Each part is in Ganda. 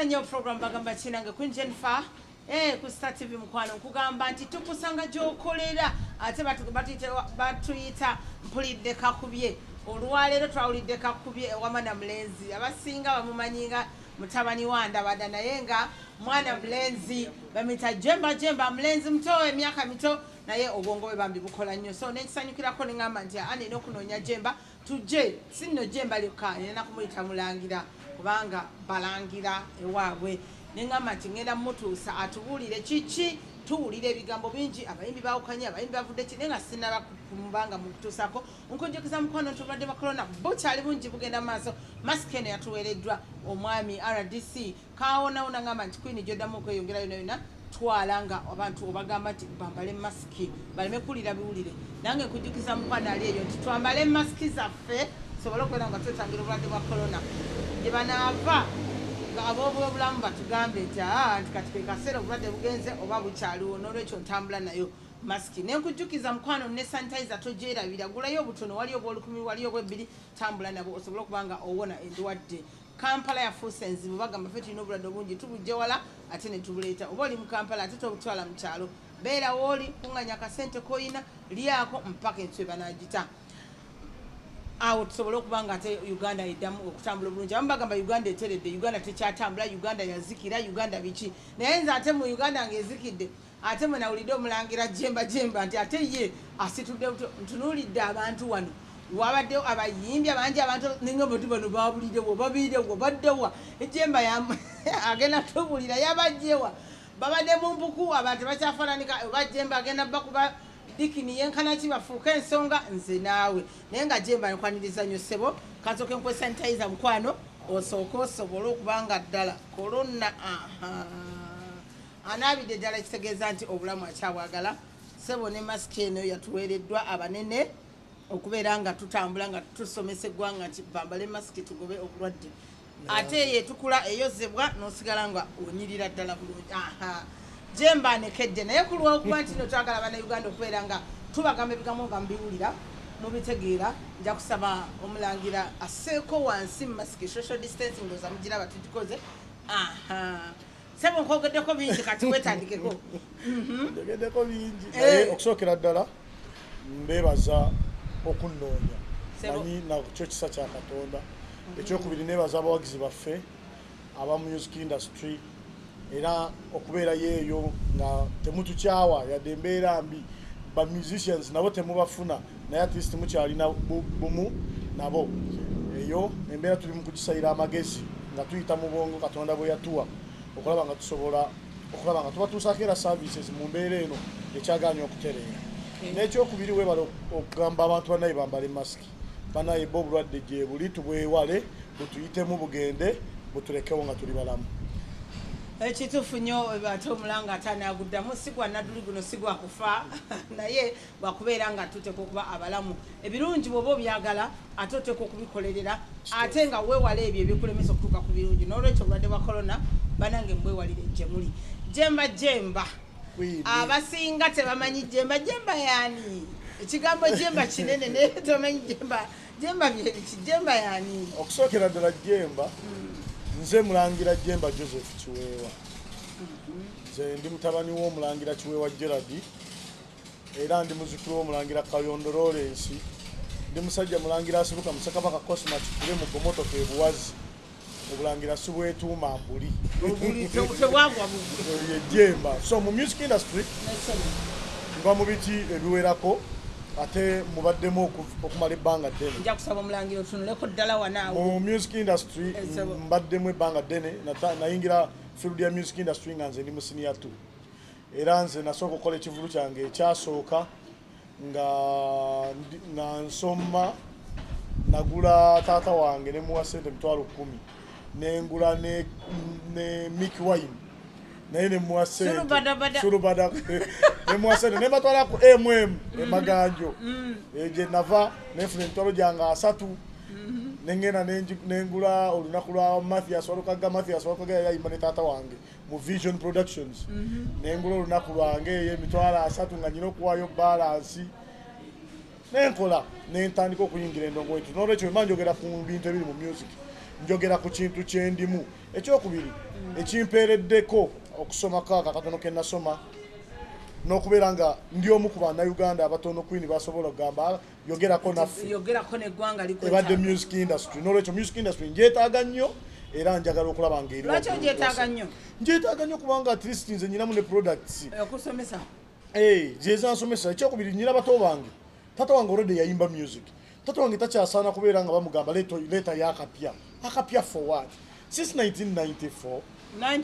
nnyo program bagamba kinange queen jennifer Eh, ku Star TV mukwano nkugamba nti tukusanga gyokolera ate batuyita mpulidde kakubye olwaleero twawulidde kakubye ewama na mulenzi abasinga bamumanyi nga mutabani wa ndabada naye nga mwana mulenzi bamita jemba jemba mulenzi muto emyaka mito naye obwongo bwe bambi bukola nnyo so nekisanyukirako neŋamba nti aa nina okunoonya jemba tujje si nno jemba lyokka nina kumuyita mulangira kubanga balangira ewaabwe neŋamba nti ŋenda mutuusa atubuulire kiki tuwulira ebigambo bingi abayimbi bawukanye abayimbi bavudde ki naye nga sinaba kumubanga mukutuusako nkunjogeza mukwano nti obulwadde bwa corona bukyali bungi bugenda mu maaso masiki eno yatuweereddwa omwami rdc kawonawo nangamba nti queen gyodamu okweyongera yona yona twala nga abantu obagamba nti bambale masiki baleme kuwulira biwulire nange nkujukiza mukwano ali eyo nti twambale masiki zaffe tusobole okubeera nga twetangira obulwadde bwa korona gye banaava nga ab'obulamu batugambe nti aa nti kati kwekaseera obulwadde bugenze oba bukyaliwo n'olwekyo ntambula nayo masiki nenkujjukiza mukwano ne sanitizer togyerabira gulayo obutono wali obwolukumi wali obwebbiri tambula nabo osobole okuba nga owona endwadde kampala yafuuse enzibu bagamba fe tulina obulwadde obungi tubujja wala ate netubuleeta oba oli mu kampala ate tobutwala mu kyalo beera wooli kunganya akasente koyina lyako mpaka ensi webanagita awo tusobole okuba nga ate uganda eddamu okutambula obulungi abamu bagamba uganda eteredde uganda tekyatambula uganda yazikira uganda biki naye nze ate mu uganda ngaezikidde ate mwe nawulidde omulangira jemba jemba nti ate ye asitudde ntunuulidde abantu wano wabaddewo abayimbi abangi abantu ninga bati bano babulirewo babirewo baddewa ejemba agenda tubulira yabajjewa babadde mu mpuku abantu bakyafananika oba jemba agenda bakuba dikini yenkana ki bafuuka ensonga nze naawe naye nga jemba nkwaniriza nyo ssebo kansooke nkwesanitayiza mukwano osooke osobole okuba nga ddala kolona aha anaabidde ddala kitegeeza nti obulamu akyabwagala sebo ne masiki eno yatuweereddwa abanene okubeera nga tutambula nga tusomesa eggwanga nti bambale masiki tugobe obulwadde ate yetukula eyozebwa nosigala nga onyirira ddala bulungi aha jemba nekedde naye ku lwokuba nti no twagala bana uganda okubeera nga tubagamba ebigambo nga mubiwulira mubitegeera nja kusaba omulangira aseeko wansi mu masiki social distancing oza mugira batugikoze aha sebo nkogeddeko bingi kati wetandikeko mhm. njogeddeko bingi eh. naye okusookera ddala mbebaza okunnoonya manyi nakyo kisa kya katonda mhm. ekyokubiri nebaza abawagizi baffe aba music industry era okubeerayo eyo nga temutukyawa yadde embeera mbi ba musicians nabo temubafuna naye at least mukyalina bumu nabo eyo embeera tuli mukugisayira amagezi nga tuyita mu bwongo katonda bwe yatuwa okulaba nga tusobola okulaba nga tubatuusaako era services mu mbeera eno ekyagaanya okutereera n'ekyokubiri webale okugamba abantu banaye bambale masiki banaye ba obulwadde gyebuli tubwewale butuyitemu bugende butulekewo nga tuli balamu ekituufu nnyo ate omulanga ate anaaguddamu sigwa nadduli guno sigwa kufa naye lwakubeera nga tuteeka okuba abalamu ebirungi bwoba obyagala ate oteeka okubikolerera ate nga weewala ebyo ebikulemesa okutuuka ku birungi n'olwekyo obulwadde bwa korona banange mbwewalire gyemuli jemba jemba abasinga tebamanyi jemba jemba yani ekigambo jemba kinene naye tomanyi jemba jemba byebiki jemba yani okusookera ddala jemba hmm. nze mulangira jemba joseph kiweewa hmm. nze ndi mutabani w'omulangira kiweewa geradi era ndi muzukulu w'omulangira kayondo lawrence ndi musajja mulangira asibuka musakabaka cosma kikule mu gomotoka ebuwazi obulangira sibwetuuma mbuli yejemba so mu music industry nva mu biti ebiwerako ate mubaddemu okumala ebbanga ddeneomu music industry mbaddemu ebbanga ddene nayingira field ya music industry nga nze ndi musiniya 2 era nze nasooka okukola ekivulu kyange ekyasooka nga nga nsoma nagula taata wange ne muwa sente emitwalo kumi nengula ne, ne mik wine naye nemuwa sentesulubada nemuwa sente nebatwala ku mm emaganjo mm. eh, gye nava nenfuna emitwalo gyange asatu mm-hmm. nengenda nengula olunaku lwa mathias walukaga mathias walukaga yayayimba ne taata wange mu Vision Productions mhm. nengula olunaku lwange eyo emitwalo asatu nga nyina okuwaayo balansi nenkola nentandika okuyingira endongo etu nolwekyo ema njogera ku bintu ebiri mu music njogera ku kintu kyendimu ekyokubiri mm. ekimpeereddeko okusoma kaaka katono kenasoma nokubeera nga ndi omu ku banauganda abatono kwini basobola okugamba yogerako naffe yogerako neggwanga ebadde music industry nolwekyo music industry njetaaga nnyo era njagala okulaba ngaerilwaki ojetaaga nnyo njetaaga nnyo kubanga at least nze nyinamu ne products eh, okusomesa eh, zezansomesa ekyokubiri nyina bato bange tata wange olwedde yayimba music tata wange takyasaana kubeera nga bamugamba leeta yakapya akapya forward since 1994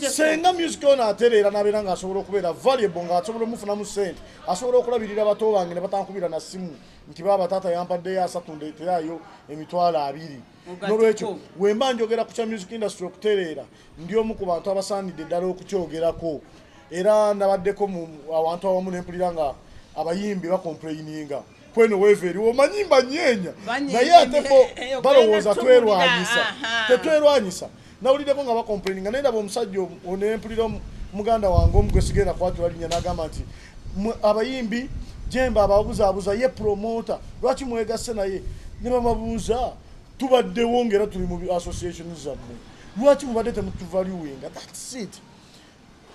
senga music ono atereera nabeera nga asobola okubeera valuable nga asobola omufunamu sente asobola okulabirira bato bange ne batankubira na simu nti baba taata yampaddeyo asatu ndeeterayo emitwalo abiri nolwekyo wemba njogera ku kya music industry okutereera ndi omu ku bantu abasaanidde ddala okukyogerako era nabaddeko mu awantu awamu nempulira nga abayimbi bakompuleyininga kweno weveri omanyi mbanyeenya naye ate bo eh, balowooza twerwanyisa tetwerwanyisa nawuliddeko nga bakomplaininga naye ndaba omusajja onempulira muganda wange omu gwesigenda kwatula linya nagamba nti abayimbi jemba ababuzaabuza ye promota lwaki mwegasse naye ne bababuuza tubaddewo ngaera tuli mu association zammwe lwaki mubadde temutuvaluinga thats it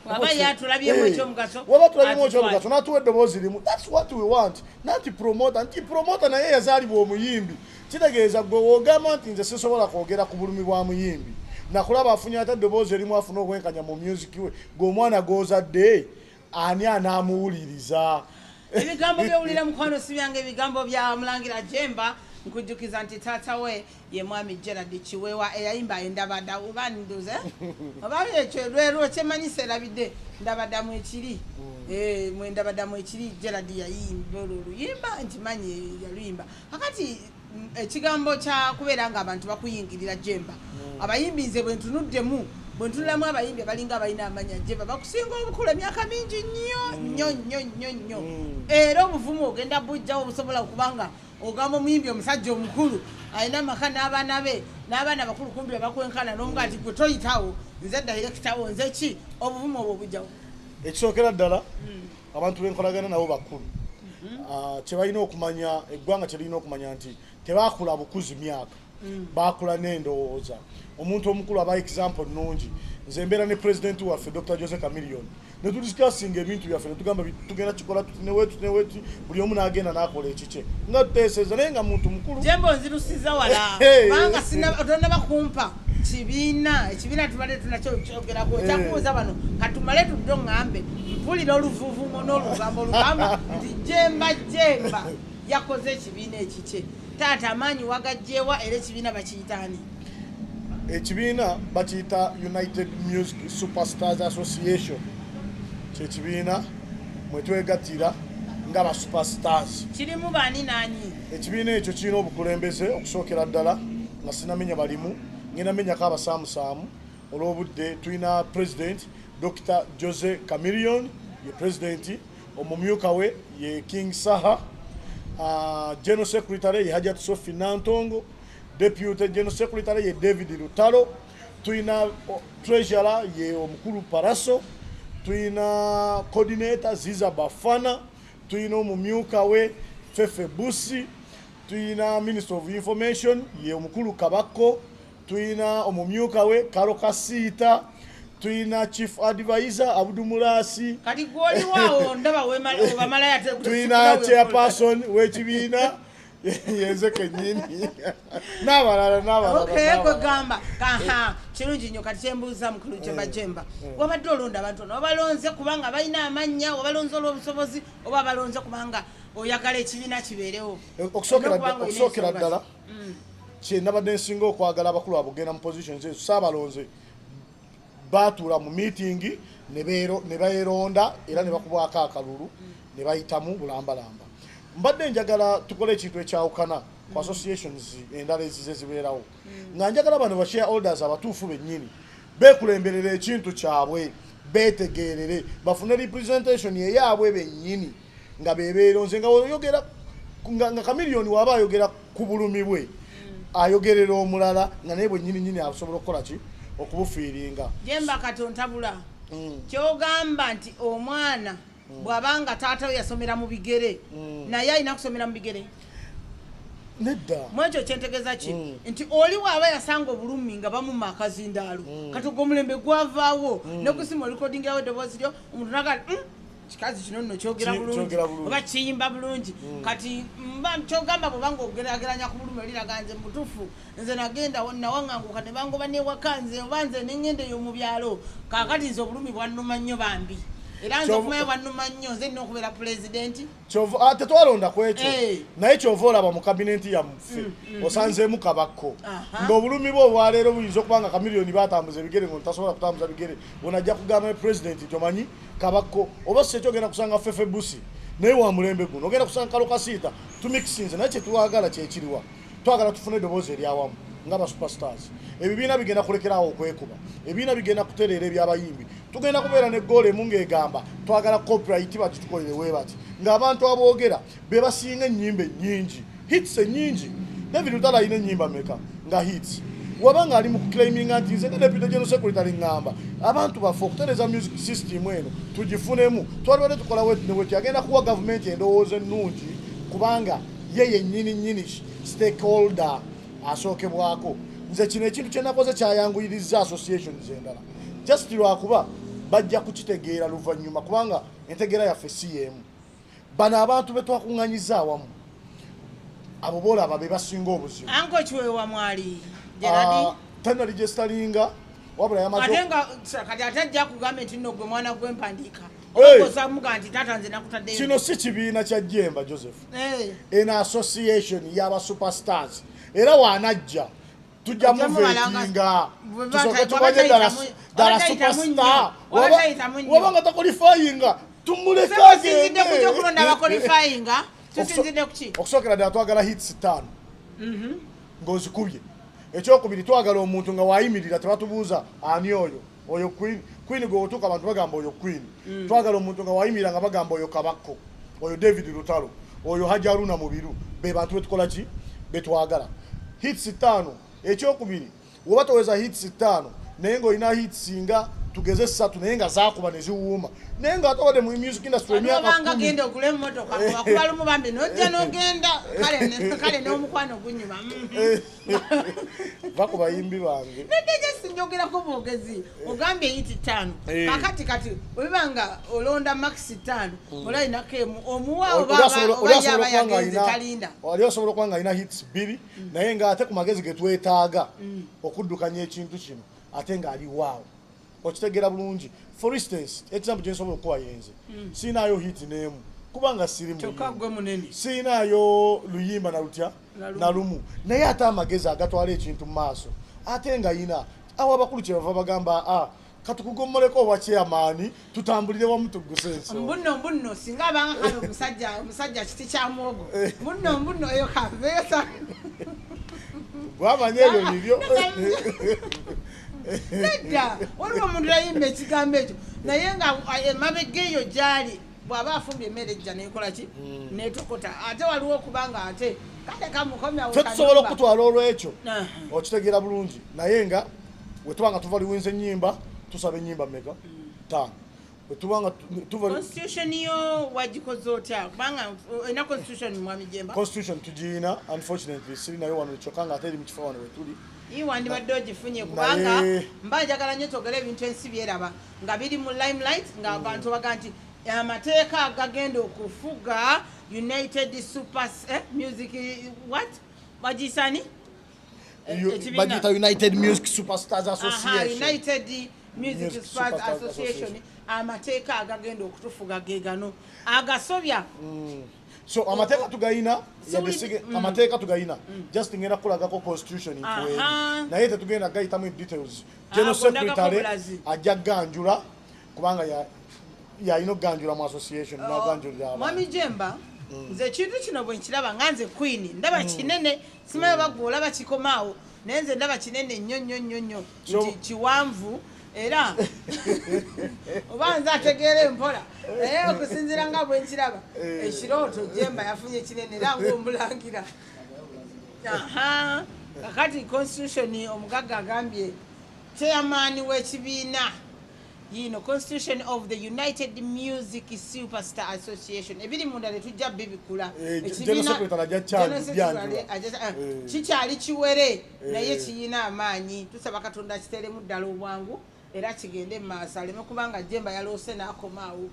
waba yatulabyemu ekyomugaso eh, waba tulabyemu ekyomugaso natuwa eddoboozi limu thats what we want nanti promota nti promota naye yazaalibwa omuyimbi kitegeeza gwe wogamba nti nze sisobola kwogera ku bulumi bwa muyimbi nakulaba afunye ate eddoboozi erimu afuna obwenkanya mu music we gwe omwana gozadde ani anaamuwuliriza ebigambo byowulira mukwano si byange ebigambo bya mulangira jemba nkujjukiza nti taata we ye mwami gerard kiwewa eyayimba endabada oba nduze oba ekyo lwero kyemanyi serabidde ndabada mwekiri mm. eh, mwendabada mwekiri gerard yayimba olwo oluyimba nkimanyi yaluyimba akati mm, ekigambo kyakubeera nga abantu bakuyingirira jemba mm. abayimbi nze bwentunuddemu bwentunulamu abayimbi abalinga abalina amanya jemba bakusinga obukulu emyaka mingi nnyo nnyo nnyo nnyo nnyo era obuvumu ogenda bujjawo obusobola okubanga ogamba omuyimbi omusajja omukulu alina amaka n'abaana be n'abaana bakulu kumbi abakwenkana n'omuga nti gwe toyitawo nze dayirekitawo nze ki obuvumu obwo obujjawo ekisookera ddala hmm. abantu benkolagana nabo bakulu hmm. ah, kyebalina okumanya eggwanga kyelirina okumanya nti tebakula bukuzi myaka mm. bakula n'endowooza omuntu omukulu aba example nungi nze mbeera ne president waffe dr jose camillion ne tudiscassinga ebintu byaffe netugamba tugenda kikola tuti neweti neweti buli omu n'agenda n'akola ekikye nga tuteeseza naye nga muntu mukulu jemba onzirusiza wala kubanga tonaba kumpa kibiina ekibiina tubadde tunakyo kyogerako ekyakubuuza bano katumale tudde oŋambe mpulira oluvuvumo n'olugambo olugamba nti jemba jemba yakoze ekibiina ekikye taata amaanyi wagajjeewa era ekibiina bakiyitaani ekibiina bakiyita united music superstars association kyekibiina mwetwegatira nga ba superstars kirimu baani naani ekibiina ekyo kirina obukulembeze okusookera ddala nga sinamenya balimu ngenda menyako abasaamusaamu olwobudde tulina president dr jose camilion ye presidenti omumyuka we ye King Saha, uh, General Secretary ye Hajat Sophie Nantongo, Deputy General Secretary ye David Lutalo, tulina uh, Treasurer ye omukulu Paraso, tulina Coordinator Ziza Bafana, tulina omumyuka we Fefe Busi, tulina Minister of Information ye omukulu Kabako, tulina omumyuka we karo kasiita tulina chief advisor abudu mulasi tulina chairperson wekibiina yenze kenyini nabalala nabalalakwegamba kaha kirungi nyo kati kyembuuza mukulu jemba eh, jemba eh. wabadde olonda abantu ono obalonze kubanga balina amannya obalonze olwobusobozi oba balonze kubanga oyagala ekibiina kibeerewo okusookera ddala mm. kyenabadde nsinga okwagala abakulu abugenda mu positions ezo saabalonze baatuula mu miitingi ne baeronda era ne bakubwako akalulu ne bayitamu bulambalamba mbadde njagala tukole ekintu ekyawukana ku mm. associations endala ezize zibeerawo mm. nga njagala bano ba share holders abatuufu bennyini bekulemberera ekintu kyabwe betegeerere bafune representation eyaabwe bennyini nga bebeero nze nga oyogera nga kamiliyoni waba ayogera ku bulumi bwe ayogerera omulala nga naye bwenyini nyini asobola okukola ki okubufiiringa jemba katontabula mm. kyogamba nti omwana mm. bwaba nga taata we yasomera mu bigere mm. naye alina kusomera mu bigere nedda mwekyo kyentegeza ki mm. nti oli waaba yasanga obulumi nga bamuma akazindaalo mm. kati ogwo omulembe gwavaawo mm. nekusima olikodingawo eddoboozi lyo omuntu naga mm. kikazi kino nno kyogera bulungi oba kiyimba bulungi hmm. kati mba kyogamba bwebanga ogerageranya ku bulumi oliraga nze mubutufu nze nagenda nawaŋanguka ne bangoba newaka nze oba nze nengenda eyo mu byalo kakati nze obulumi bwannuma nnyo bambi era nze okumanya bwannuma nnyo nze nina okubeera pulezidenti ah, tetwalonda ku ekyo eh. naye kyova olaba mu kabinenti yamuffe mm, mm. osanzeemu kabakko ng'obulumi bwe obwaleero buyinza okuba nga kamiliyoni batambuza ebigere ngo ntasobola kutambuza bigere onajja kugamba pulezidenti nti omanyi kabakko oba sekyo ogenda kusanga fefe busi naye wa mulembe guno ogenda kusanga kalo kasiita tumikisinze naye kyetwagala kyekiriwa twagala tufune eddoboozi eryawamu nga ba superstars ebibiina bigenda kulekeraawo okwekuba ebibiina bigenda kutereera ebyabayimbi tugenda kubeera ne goolo emu ng'egamba twagala copyright bagitukolere webati ng'abantu aboogera bebasinga enyimba enyingi hits enyingi david lutalo alina enyimba meka nga hits waba nga ali mu kuclaiminga nti nze nga deputy general secretary ngamba abantu baffe okutereza music system eno tugifunemu twalibadde tukola wetneweti agenda kuwa gavumenti endowooza ennungi kubanga ye yennyini nyini stakeholder asookebwako nze kino ekintu kyenakoze kyayanguyirizza associations endala just lwakuba bajja kukitegeera luvannyuma kubanga entegeera yaffe si yeemu bano abantu betwakuŋŋanyiza awamu abo boolaba be basinga obuzibu anko kiwewa mwali geradi ah, tena ligestalinga wabula yamatenga kati ate ajja kugamba nti nno gwe mwana gwempandiika kino si kibiina kya jemba joseph eno association yaba superstars era wanajja tujja muvetinga tusoke tubaje ddala superstar waba nga takolifayinga tumulekagendeokulondabakolifayinga okusookera ddala twagala hits ttaano mhm. ng'ozikubye ekyokubiri twagala omuntu nga wayimirira tebatubuuza ani oyo oyo queen queen gwe otuka abantu bagamba oyo queen mm. twagala omuntu nga wayimira nga bagamba oyo kabakko oyo david lutalo oyo hajaruna mubiru be bantu betukola ki betwagala hits tano ekyokubiri woba toweza hits tano naye nga olina hits nga tugeze satu naye nga zakuba neziwuuma naye nga atobade mu music industry emyakabanga genda okula emotoka kubalumu bambi nojja nogenda kale nomukwano gunyuma mm-hmm. eh. va ku bayimbi bange nageje sinjogerako bwogezi ogambye yiti tano eh. kakati kati obiba nga olonda max tano hmm. olayinako emu omuwaobayabayagenzitalinda wali osobola okuba nga alina hits bbiri hmm. naye nga ate ku magezi getwetaaga hmm. okuddukanya ekintu kino ate nga ali waawo okitegera bulungi for instance example gye nsobola okuwa yenze mm. sirinaayo hit n'emu kubanga siri sirinaayo luyimba na lutya na lumu naye ate amagezi agatwala ekintu mu maaso ate nga yina awo abakulu kye bava bagamba a ah, katukugomoleko owa chairman tutambulire wamu tugguse ensonga mbuno mbuno singa abanga kale omusajja omusajja kiti kya mwogo eh. mbuno mbuno eyo kaveesa gwamanya ebyo bibyo nedda waliwo omuntu yayimba ekigambo ekyo naye nga emabega eyo gyali bwaba afumbye emmere ejja nekolaki hmm. netokota ate waliwo okuba nga ate kale kamukomyafe tusobola okutwala olwekyo okitegeera bulungi naye nga wetuba nga tuva liwinza enyimba tusaba enyimba meka hmm. taano tubanga tuva constitution yo wagikoze otya kubanga ena constitution mwami jemba constitution tujina unfortunately siri nayo wano kyoka nga ate eri mu kifo wano wetuli ii wandibadde ogifunye kubanga mba njagala nnyo twogere ebintu ensi byeraba nga biri mu limelight nga abantu mm. baga nti amateeka agagenda okufuga united super eh, music what bagisani bagiyita united music superstars associationunited music superstars association amateeka agagenda okutufuga gegano agasobya mm. so amateeka tugayina mm. amateeka tugayina mm. just ngenda kukulagako constitution nkuwe naye tetugenda gayitamu details ah, general secretary ajja ganjula kubanga yalina okuganjula mu association oh. naganjulira mwami jemba nze ekintu kino bwenkiraba nga nze queen ndaba kinene simayo bagwe olaba kikomaawo naye nze ndaba kinene nnyo nnyo nnyo nnyo kiwanvu era oba nze ategeera empola naye okusinzira nga bwenkiraba eh. ekirooto jemba yafunye kinene era ngaomulangira kakati constitution omugagga agambye chairman w'ekibiina yiino constitution of the united music superstar association ebiri munda netujja bibikula eh, kikyali eh. kiwere eh. naye kiyina amaanyi tusaba katonda kiteremu ddala obwangu era kigende mu maaso aleme kubanga jemba yaloose n'akomaawo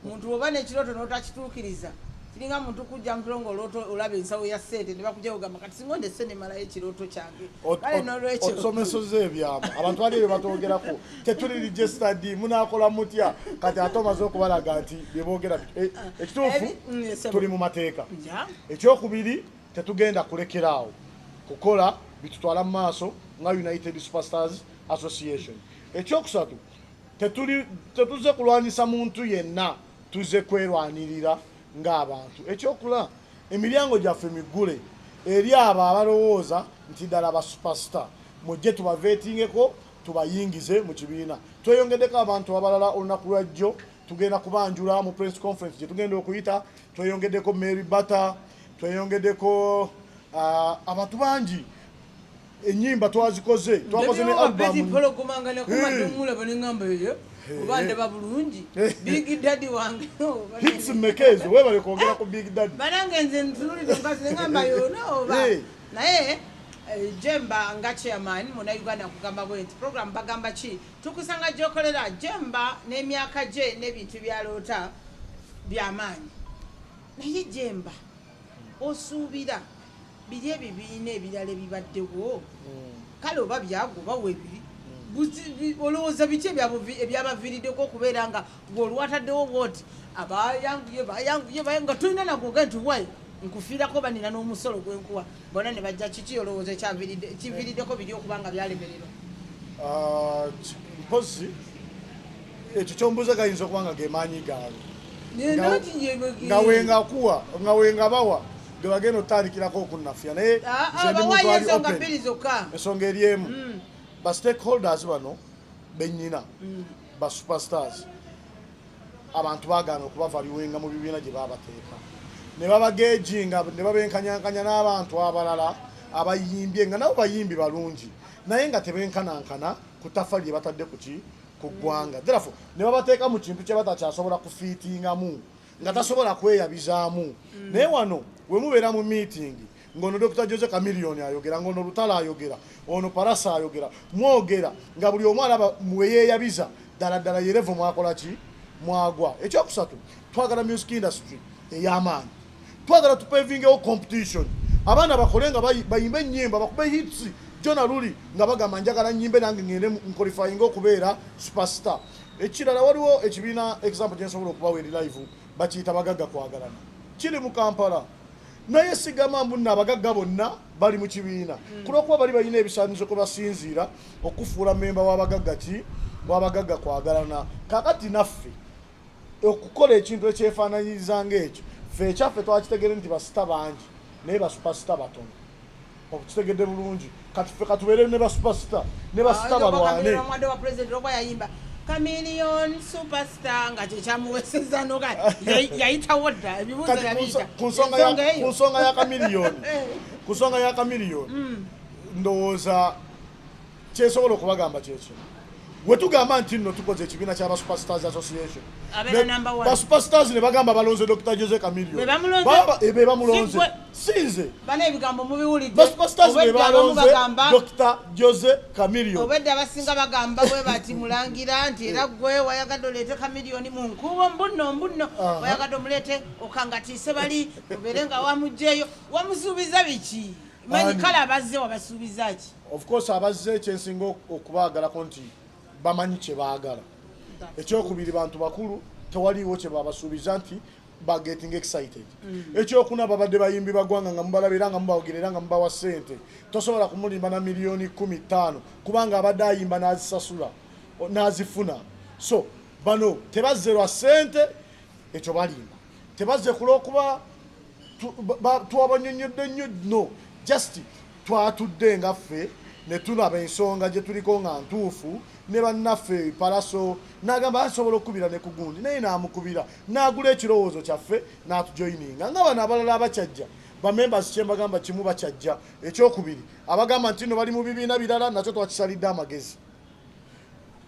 muntu oba nekiroto notakituukiriza kiringa muntu kujja mukiro nga olooto olaba ensawo ya sente nebakujja kugamba kati singa ondese nemalayo ekirooto kyange kale nolwekyo osomesoza ebyama abantu bali ebyo batogerako tetuli registered munakola mutya kati ate omaze okubalaga nti byebogera eh, ekituufu mm, tuli mu mateeka ekyokubiri tetugenda kulekera awo kukola bitutwala mu maaso nga united superstars association ekyokusatu tetuze kulwanyisa muntu yenna tuze kwerwanirira ng'abantu ekyokula emiryango gyaffe miggule eri abo abalowooza nti ddala ba supasita mujje tubaveetingeko tubayingize mu kibiina tweyongedeko abantu abalala olunaku lwajjo tugenda kubanjula mu press conference gye tugenda okuyita tweyongedeko mary batter tweyongedeko uh, abantu bangi enyimba twazikoze twakoze ne albummpologomanga nakumadde omulaba neŋamba eyo oba ndaba bulungi big daddy wange hits mmeka ezo webale kwogera ku big daddy banange nze ntunulide mukazi neŋamba yona oba naye eh, jemba nga chairman muna uganda kugamba bwe nti program bagamba ki tukusanga gyokolera jemba n'emyaka gye n'ebintu byaloota byamaanyi naye jemba osuubira biri ebibiina ebirala ebibaddewo hmm. kale oba byago oba webiri hmm. olowooza biki ebyabaviiriddeko okubeera nga gweolwataddewo bwoti abayanguye bayanguye nga tulina nagwoga nti wayi nkufiirako banina n'omusolo gwenkuwa bona ne bajja kiki olowooza kiviiriddeko biri okuba nga byalemererwa ah, mpozi ekyo kyombuuza gayinza okuba nga gemaanyi gaabwe nga wengakuwa nga wengabawa gwe bagenda otandikirako okunnafya naye ah, ah, ensonga eri emu mm. ba stakeholders bano benyina mm. ba superstars abantu bagaana okubavaliwenga mu bibiina gye babateeka ne babagejinga ne babenkanyankanya n'abantu abalala abayimbye nga nabo bayimbi balungi naye nga tebenkanankana ku tafa lye batadde kuki ku ggwanga mm. therefore ne babateeka mu kintu kye batakyasobola kufiitingamu nga tasobola kweyabizaamu mm. naye wano wemubeera mu meeting ngono Dr. Jose Chameleone ayogera ngono Lutalo ayogera ono Parasa ayogera mwogera nga buli omu alaba mweyeyabiza ddala ddala yerevo mwakola ki mwagwa ekyokusatu twagala music industry ey'amaanyi twagala tupevingewo competition abaana bakole nga bayimbe ennyimba bakube hits jona luli nga bagamba njagala nyimbe nange ngende nkolifayinga okubeera superstar ekirala waliwo ekibiina example gyensobola okubawo eri live bakiyita bagagga kwagalana kiri mu kampala naye sigamba mbu nno abagagga bonna bali mu kibiina hmm. kulwokuba bali balina ebisaanizo kwe basinziira okufuula memba wabagagga ki wabagagga kwagalana kakati naffe okukola ekintu ekyefaananyiriza ngaekyo fe ekyaffe twakitegere nti basita bangi naye basupasita batono okitegedde bulungi kati ffe katubeere ne basupasita ne basita balwane Chameleon superstar nga kyekyamuweseza noga yayitawo dda ebibuuzo yabiyita ku nsonga ya Chameleon ku nsonga ya Chameleon ndowooza kyesobola okubagamba kyekyo wetugamba nti nno tukoze ekibiina kya basuperstars association basuperstars ne bagamba balonze dr jose camilio eh, be bamulonze sinze basuperstars be balonze dr jose camilio obedde abasinga bagamba bwe bati mulangira nti era gwe wayagadde oleete camilioni mu nkuubo mbunno mbunno wayagadde omuleete okangatiise bali obeere nga wamugjeeyo wamusuubiza biki manyi kale abazze wabasuubiza ki of course abazze ekyensinga okubaagalako nti bamanyi kye baagala ekyokubiri bantu bakulu tewaliiwo kye babasuubiza nti bageting excited mm. ekyokuna babadde bayimbi bagwanga nga mubalaba era nga mubawogira era nga mubawa sente tosobola kumulimba na miliyoni kumi ttaano kubanga abadde ayimba n'azisasula n'azifuna so bano tebazze lwa sente ekyo balimba tebazze kulwokuba twabanyonyodde nnyo no just Twatudde nga ffe ne tulaba ensonga gye tuliko nga ntuufu ne bannaffe palaso n'agamba asobola okukubira ne ku gundi naye n'amukubira n'agula ekirowoozo kyaffe n'atujoyininga nga bano abalala abakyajja bamembers kye mbagamba kimu bakyajja ekyokubiri abagamba nti no bali mu bibiina birala nakyo twakisalidde amagezi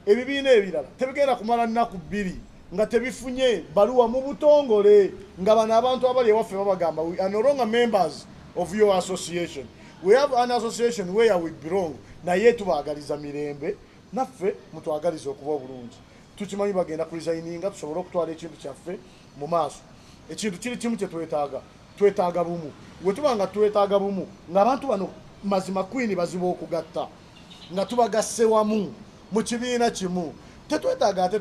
ebibiina ebirala tebigenda kumala nnaku bbiri nga tebifunye baluwa mu butongole nga bano abantu abali ewaffe babagamba we are no longer members of your association we have an association where we belong naye tubaagaliza mirembe naffe mutwagaliza okuba obulungi tukimanyi bagenda kulizayininga tusobole okutwala ekintu kyaffe mu maaso ekintu kiri kimu kyetwetaaga twetaaga bumu wetuba nga twetaaga bumu ngaabantu bano mazima kwini baziba okugatta nga tubagasse wamu mu kibiina kimu tetwetaaga ate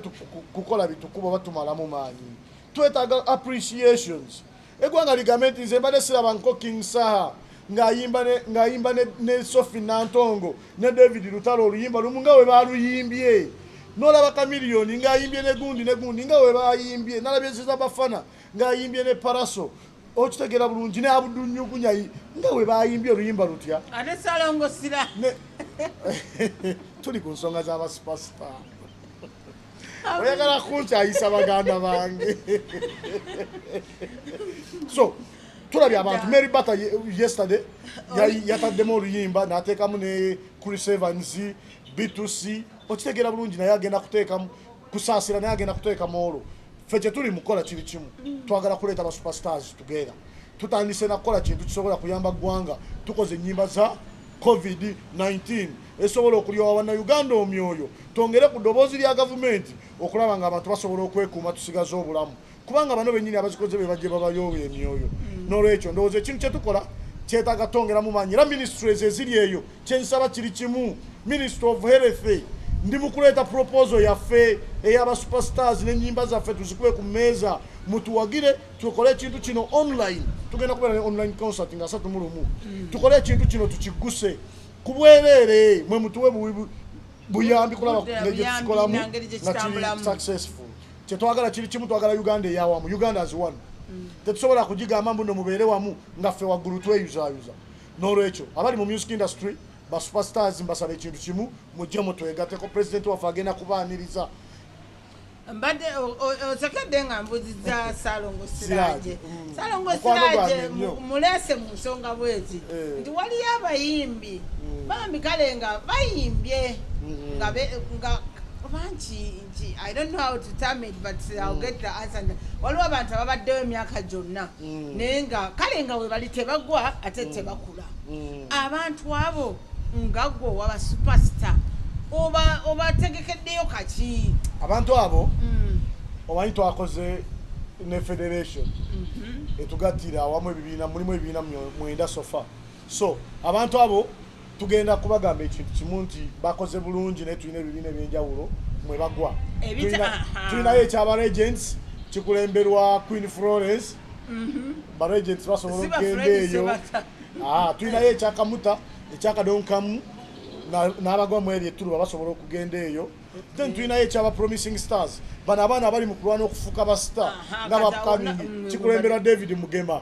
kukola bitukuba oba tumalamu maanyi twetaaga appreciations egwanga ligambe nti nze mbadde siraba nko king saha ng'ayimba ne sofi nantongo ne david lutalo oluyimba lumu nga we baluyimbye nolaba kamiliyoni ng'ayimbye ne gundi ne gundi nga we bayimbye nalabyeziza bafana ng'ayimbye ne paraso okitegera bulungi ne abudunyugunya nga we bayimbye oluyimba lutya ate salongo sira tuli ku nsonga z'abasupasita oyagala kunkyayisa baganda bange so tulabye abantu mary bata yesterday yataddemu oluyimba nateekamu ne chris evans bitusi okitegera bulungi naye agenda kuteekamu Kusaasira naye agenda kuteeka moolo. Ffe kye tuli mu kukola kiri kimu, twagala kuleeta ba superstars together. Tutandise na kukola kintu kisobola kuyamba ggwanga. Tukoze ennyimba za COVID-19 esobola okulyowa bannayuganda omyoyo, twongere ku ddoboozi lya gavumenti okulaba ng'abantu basobola okwekuuma tusigaze obulamu. kubanga bano benyini abazikoze be bajje babayo emyoyo mm. nolwekyo ndowooza ekintu kyetukola kyetaaga tongeramu maanyi era ministries eziri eyo kyensaba kiri kimu ministry of health ndi mukuleeta proposal yaffe eyaba superstars nenyimba zaffe tuzikube ku meeza mutuwagire tukole ekintu kino online tugenda kubeera ne online concert nga asatu mulumu mm. tukole ekintu kino tukiguse kubwereere mwe mutuwe buyambi kulaba nejetukikolamu nga kiri successful kyetwagala kiri kimu twagala uganda eyawamu uganda as one mm. tetusobola kugigamba mbuno mubeere wamu nga ffe waggulu tweyuzayuza n'olwekyo abali mu music industry ba superstars mbasaba ekintu kimu mujje mutwegateko president waffe agenda kubaaniriza mbadde osekedde nga mbuziza salongo siraje mm. salongo siraje mulese mu nsonga bwezi eh. nti waliyo abayimbi mm. bambi kale nga bayimbye mm-hmm. nga bangi I don't know how to term it but I'll mm. get the answer. Waliwo abantu ababaddewo emyaka gyonna mm. naye nga kale nga webali tebagwa ate mm. tebakula. Abantu abo nga gwo waba superstar oba obategekeddeyo kaki? Abantu abo omanyi twakoze ne federation mm-hmm. etugattira awamu ebibiina mulimu ebibiina mwenda sofa so abantu abo tugenda kubagamba ekintu kimu nti bakoze bulungi naye tulina ebibiina ebyenjawulo mwe bagwa tulinayo ekyaba regents kikulemberwa queen florence mhm. ba regents basobola okugenda eyo ah, tulinayo ekyakamuta ekyakadonkamu n'abagwa mu eryo etturuba basobola okugenda eyo then tulinayo ekyaba promising stars bano abaana abali mu kulwana okufuuka basita nga bapkamingi mm, kikulemberwa david mugema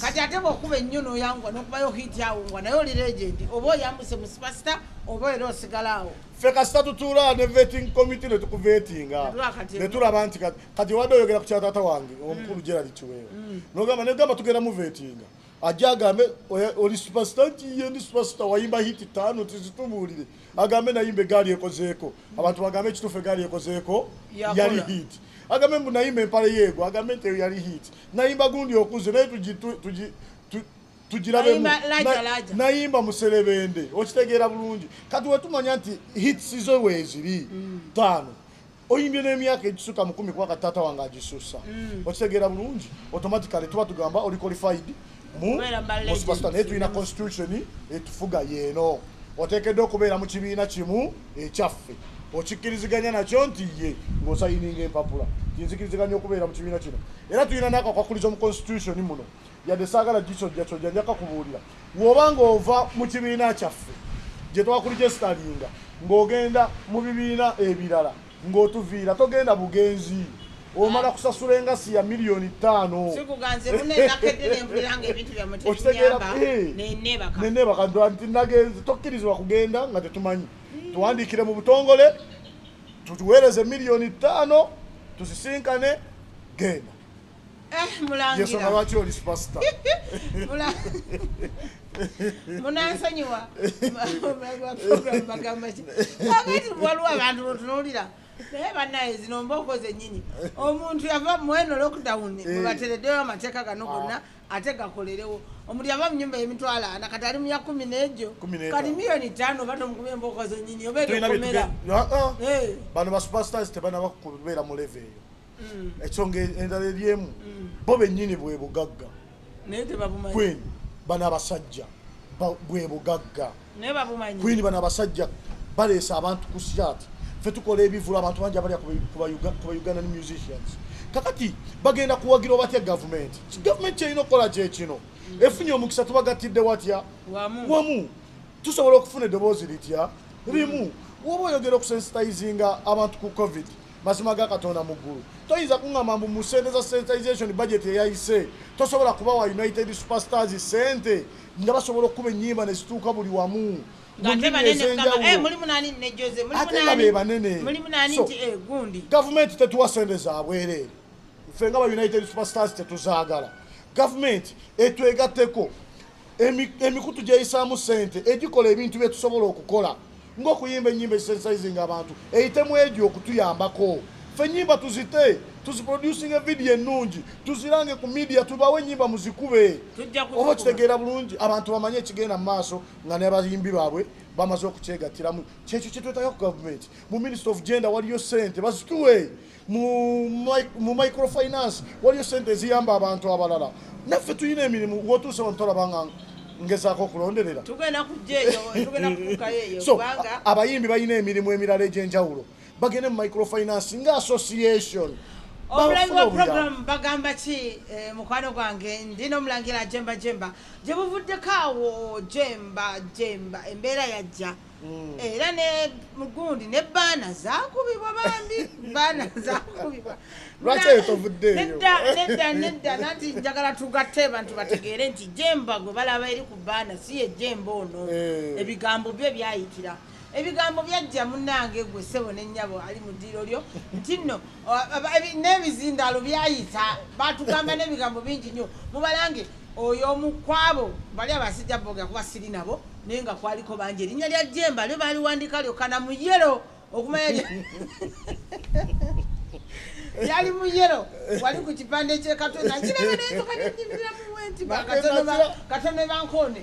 kati ate bwokuba ennyo noyangwa nokubayo hiti awo ngwa naye oli legendi oba oyambuse mu sipasita oba era osigala awo ffe kasita tutuula ne veting committee ne tukuvetinga ne tulaba nti kati wadde oyogera ku kyataata wange mm. omukulu gerali kiweewa mm. nogamba negamba tugenda muvetinga ajja agambe oli supasita nti ye ndi supasita wayimba hiti taano tizitubuulire agambe nayimba egaali ekozeeko abantu bagambe ekituufu egaali ekozeeko yali hiti agambe mbu nayimba empale yeego agambe nti eyo yali hiti nayimba gundi okuze naye tugirabe nayimba muserebende okitegeera bulungi kati wetumanya nti hits zo weeziri mm. taano oyimbye n'emyaka egisuka mukumi kuba kati taata wange agisusa mm. okitegeera bulungi automatically tuba tugamba oli qualified musupasita naye tulina constitution etufuga yeeno oteekeddwa okubeera mu kibiina kimu ekyaffe okikkiriziganya nakyo nti ye ng'osayininga empapula kinzikiriziganya okubeera mu kibiina kino era tulina nakakwakulizo mu constitution muno yadde saagala gisojjasojja njaka kubuulira woba ng'ova mu kibiina kyaffe gye twakulijesitalinga ng'ogenda mu bibiina ebirala ng'otuviira togenda bugenzi omala kusasula engasi ya miliyoni ttaano okitegeeranenebakadwa nti nagenze tokkirizibwa kugenda nga tetumanyi tuwandiikire mu butongole tutuweereze miliyoni ttaano tusisinkane genda Eh, mulangira lwaki oli superstar munansonyiwa bagamba ki agati waliwo abantu botunulira naye banaye zino mbooko zenyini omuntu yava mweno lockdown eh. webateredeyo amateeka gano ah. gonna ate gakolerewo omuntu yava munyumba yemitwalo ana kati ali muya kumi nejo kati miliyoni tano oba tomukuba embooko zenyini oba ekomera ah, ah. eh. bano basuperstars tebanaba kubeera mu leve eyo mm. ensonga endala eryemu mm. bo bennyini bwe bugagga kwini bano abasajja bwe bugagga kwini bano abasajja baleesa abantu ku syati fe tukola ebivulu abantu bangi abalya ku ugandan musicians kakati bagenda kuwagira obatya gavumenti gavumenti kyerina okukola kyekino mm. efunye omukisa tubagattidde watya wamu tusobola okufuna eddoboozi litya limu woba oyogera okusensitizinga abantu ku covid mazima ga katonda mu ggulu toyinza kuŋŋamba mbu mu sente za sensitization budget eyayise tosobola kuba wa united superstars sente nga basobola okukuba ennyimba ne zituuka buli wamu ate nga be banene gavumenti tetuwa sente za bwereere ffe nga ba united superstars tetuzaagala gavumenti etwegatteko emikutu gyeyisaamu sente egikola ebintu byetusobola okukola ngaokuyimba enyimba ezisensizinga abantu eyitemu egyo okutuyambako fe enyimba tuzite tuziproducing evidiyo ennungi tuzirange ku midia tubawo enyimba muzikube oba okitegeera bulungi abantu bamanye ekigenda mu maaso nga nabayimbi baabwe bamaze okukyegattiramu kyekyo kyetwetaga ku gavumenti mu minister of gender waliyo sente bazituwe mu microfinance waliyo sente eziyamba abantu abalala naffe tulina emirimu wotuuse wano tolabanga ngezaako okulonderera so abayimbi balina emirimu emirala egyenjawulo bagende mu microfinance nga association omulangi wa program bagamba ki eh, mukwano gwange ndi nomulangira jemba jemba gyebuvuddeko awo jemba jemba embeera yajja Mm. era ne mugundi ne baana zakubibwa bambi baana zakubibwa lwaki eyo tovuddeeyo nedda nedda nedda nanti njagala tugatte bantu bategeere nti jemba gwe balaba eri ku baana si ye jemba ono eh. ebigambo bye byayitira ebigambo byajja munange gwe sebo nenyabo ali mu ddiiro lyo nti nno n'ebizindaalo byayita batugamba n'ebigambo bingi nnyo mubalange oyo omukwabo bali abasajja boga kuba siri nabo naye nga kwaliko bangi erinnya lya jemba lyo baliwandika lyokana mu yero okumanya yali mu yero wali ku kipande kyekatonda kirabanaeokanenyimirira muwenti katono bankoone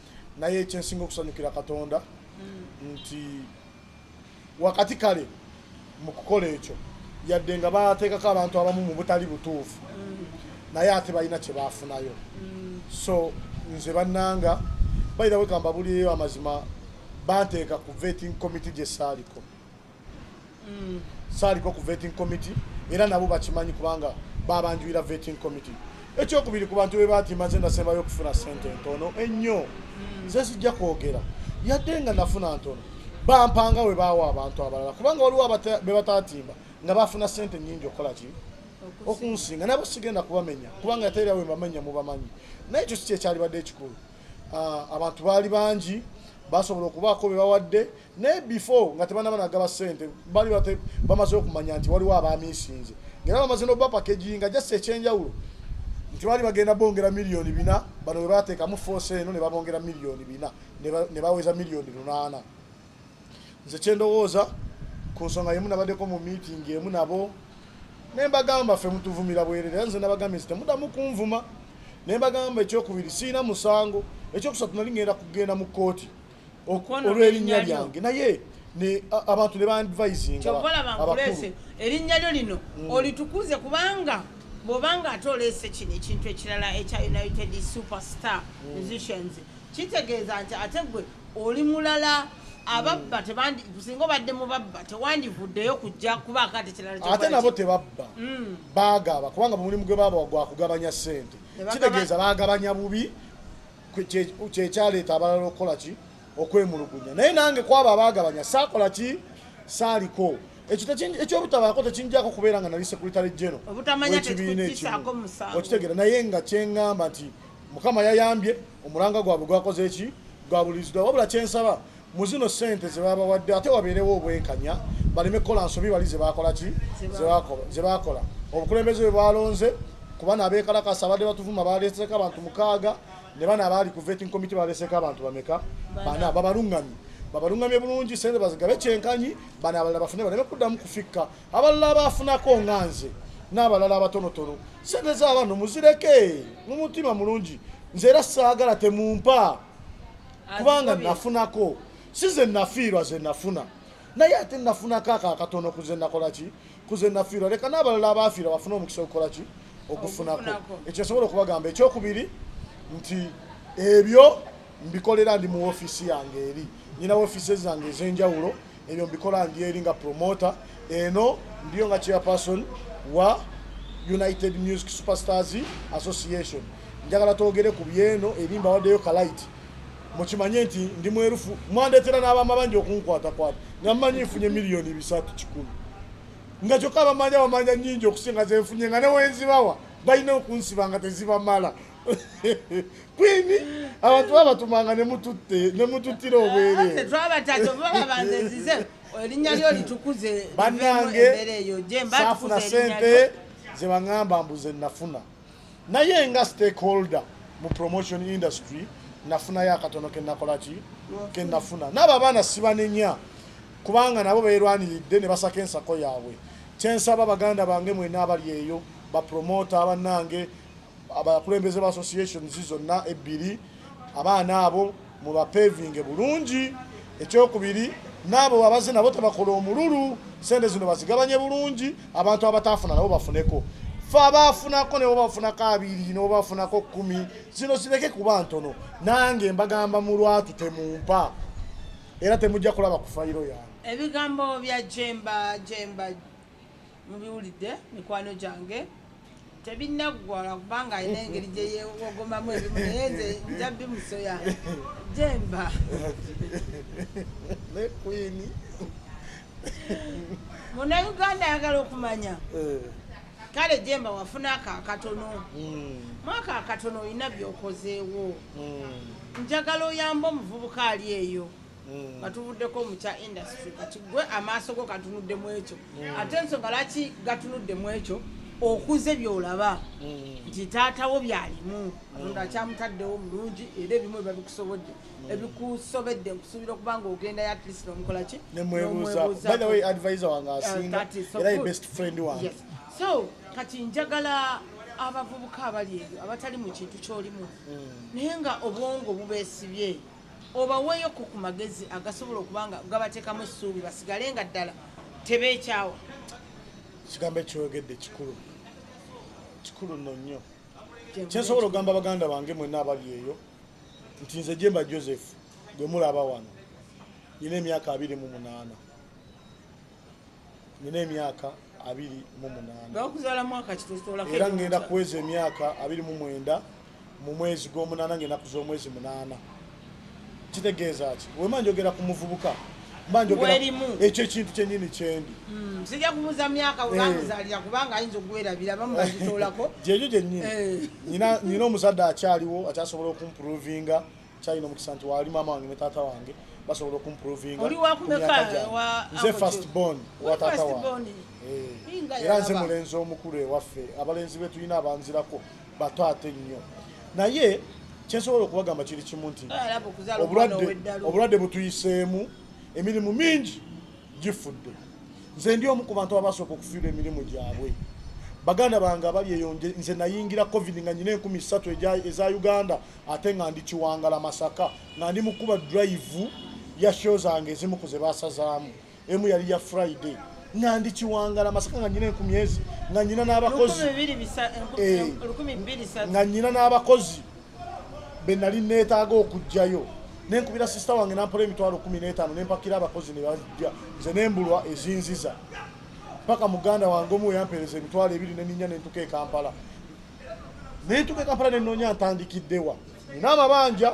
naye ekyensinga okusanyukira katonda mm. nti wakati kale mu kukola ekyo yadde nga bateekako abantu abamu mu butali butuufu mm. naye ate balina kye baafunayo mm. so nze bannanga bayirawe kambabulireyo amazima banteeka ku vetting committee gye saaliko mm. saaliko ku vetting committee era nabo bakimanyi kubanga babanjulira vetting committee ekyokubiri ku bantu be baati maze nasembayo okufuna sente ntono ennyo mm. ze sijja kwogera yadde nga nafuna ntono bampanga we baawa abantu abalala kubanga waliwo be bataatimba nga bafuna sente nyingi okukola ki okunsinga nabo sigenda kubamenya kubanga yateera we mbamenya mubamanyi naye ekyo si kyekyalibadde ekikulu ah, abantu baali bangi basobola okubaako be bawadde naye before nga tebanaba nagaba sente bali bate bamaze okumanya nti waliwo abamisinze ngaera bamaze nokuba pakeji nga just ekyenjawulo nti bali bagenda bongera miliyoni bina bano bwe bateekamu force eno ne babongera miliyoni bina ne baweza miliyoni lunaana nze kyendowooza ku nsonga yemu nabaddeko mu meeting emu nabo naye mbagamba ffe mutuvumira bwerere nze nabagambye nti temudamu kunvuma naye mbagamba ekyokubiri siina musango ekyokusatu nali ngenda kugenda mu kkooti olw'erinnya lyange naye abantu ne bandivayizingaabakulu erinnya lyo lino mm. olitukuze kubanga bwobanga ate oleese kino ekintu ekirala ekya united superstar mm. musicians kitegeeza nti ate gwe oli mulala ababba tebandi singa obadde mu babba tewandivuddeyo kujja kuba akati kirala ate nabo tebabba mm. bagaba kubanga mulimu gwe baba gwakugabanya sente kitegeeza bagabanya bubi kyekyaleeta abalala okukola ki okwemulugunya naye nange kwabo abagabanya saakola ki saaliko ekyobutabaako tekinjako kubeera nga nali sekuritale jeno ekibiina ekimu okitegera naye nga kyengamba nti mukama yayambye omulanga gwabwe gwakoze eki gwabuliziddwa wabula kyensaba mu zino ssente ze babawadde ate wabeerewo obwenkanya baleme kukola nsobi bali zebakola ki zebakola obukulembeze bwe bwalonze kuba nabekalakasa abadde batuvuma baleeseko abantu mukaaga ne bana abaali ku vetting committee baleeseko abantu bameka bana babalungamye babalungamye bulungi sente bazigabe kyenkanyi bana abalala bafune baleme kuddamu kufikka abalala abaafunako nga nze n'abalala abatonotono sente z'abantu muzireke mu mutima mulungi nze era saagala temumpa kubanga nafunako si ze nafiirwa ze nafuna naye ate nafunako ako akatono kuze nakola ki kuze nafiirwa leka n'abalala abaafiirwa bafuna omukisa okukola ki okufunako ekyo nsobola okubagamba ekyokubiri nti ebyo mbikolera ndi mu ofiisi yange eri nyina ofiisi zange ez'enjawulo ebyo mbikola ndi eri nga promoter eno ndiyo nga chairperson wa united music superstars association njagala twogere ku byeno eri mbawaddeyo kalaiti mukimanye nti ndi mwerufu mwandetera n'abaama bangi okunkwatakwata nga mmanyi nfunye miliyoni bisatu kikumi nga kyokka abamanya bamanya nyingi okusinga zenfunye nga newenzibawa balina okunsiba nga tezibamala kwini abantu babatumanga nemututte nemututtira obwerere erinnya lyo litukuze banange safuna sente zebaŋamba mbuze nafuna naye nga stakeholder mu promotion industry nafunayo akatono kenakolaki kenafuna naabo abaana sibanenya kubanga nabo beerwaniridde ne basaka ensako yaabwe kyensaba baganda bange mwena abali eyo bapromota banange abakulembeze ba associations zonna ebbiri abaana abo mubapevinge bulungi ekyokubiri naabo abaze nabo tebakola omululu sente zino bazigabanye bulungi abantu abataafuna nabo bafuneko fe abaafunako nebo bafunako abiri nebo bafunako kumi zino zireke kuba ntono nange mbagamba mulwatu temumpa era temujja kulaba kufayiro yange ebigambo bya jemba jemba mubiwulidde mikwano gyange tebinaggwala kubanga alina engeri gyeyewogomamu ebimu naye nze nja bimusoya jemba munauganda ayagala okumanya eh. kale jemba wafuna ako akatono hmm. mwaka akatono olina byokozeewo hmm. njagala oyamba omuvubuka ali eyo Mm. katuvuddeko mu kya industry kati gwe amaaso go gatunudde mu ekyo mm. ate ensonga laki gatunudde mu ekyo okuze byolaba mm. nti taatawo byalimu katonda akyamutaddewo mulungi era ebimu biba bikusobodde ebikusobedde nkusuubira okuba nga ogenda yatlist omukola ki eh, so kati njagala abavubuka abali ebyo abatali mu kintu kyolimu naye nga obwongo bubeesibye obaweeyoko ku magezi agasobola okuba nga gabateekamu essuubi basigale nga ddala tebeekyawa kigambo ekyoyogedde kikulu kikulu nno nnyo kyensobola okugamba baganda bange mwenna abali eyo nti nze jemba joseph gwe mulaba wano nyina emyaka abiri mu munaana nina emyaka abiri mu munaanaera ngenda kuweza emyaka abiri mu mwenda mu mwezi gw'omunaana ngenda kuza omwezi munaana kitegeeza ki wema njogera ku muvubuka ekyo ekintu kyenyini kyendi hmm, sija kubuza myaka eh. webamuzalira kubanga ayinza okuwerabira bamubagitolako gyegyo gyenyini eh. nyina omuzadde akyaliwo akyasobola okumprovinga kyalina omukisa nti waali maama wange ne taata wange basobola okumprovinganze fast bon wa taata wange eh, era nze mulenzi omukulu ewaffe abalenzi be tulina abanzirako bato ate nnyo naye kyensobola okubagamba kiri kimu nti obulwadde butuyiseemu emirimu mingi gifudde nze ndi omu ku bantu abasooka okufiirwa emirimu gyabwe baganda bange abali eyo nze nayingira covid nga nyina enkumi ssatu eza uganda ate nga ndi kiwangala masaka nga ndi mukuba drive ya show zange ezimu ku ze basazaamu emu yali ya friday nga ndi kiwangala masaka nga nyina enkumi ezi nga nyina n'abakozi eh, nga nyina n'abakozi be nali neetaaga okugjayo nenkubira sisita wange nampola emitwalo kumi n'etaano nempakira abakozi ne bajja nze nembulwa ezinziza paka muganda wange omu weyampeereza emitwalo ebiri neninya nentuka e kampala naye tuka ekampala nenoonya ntandikiddewa nina amabanja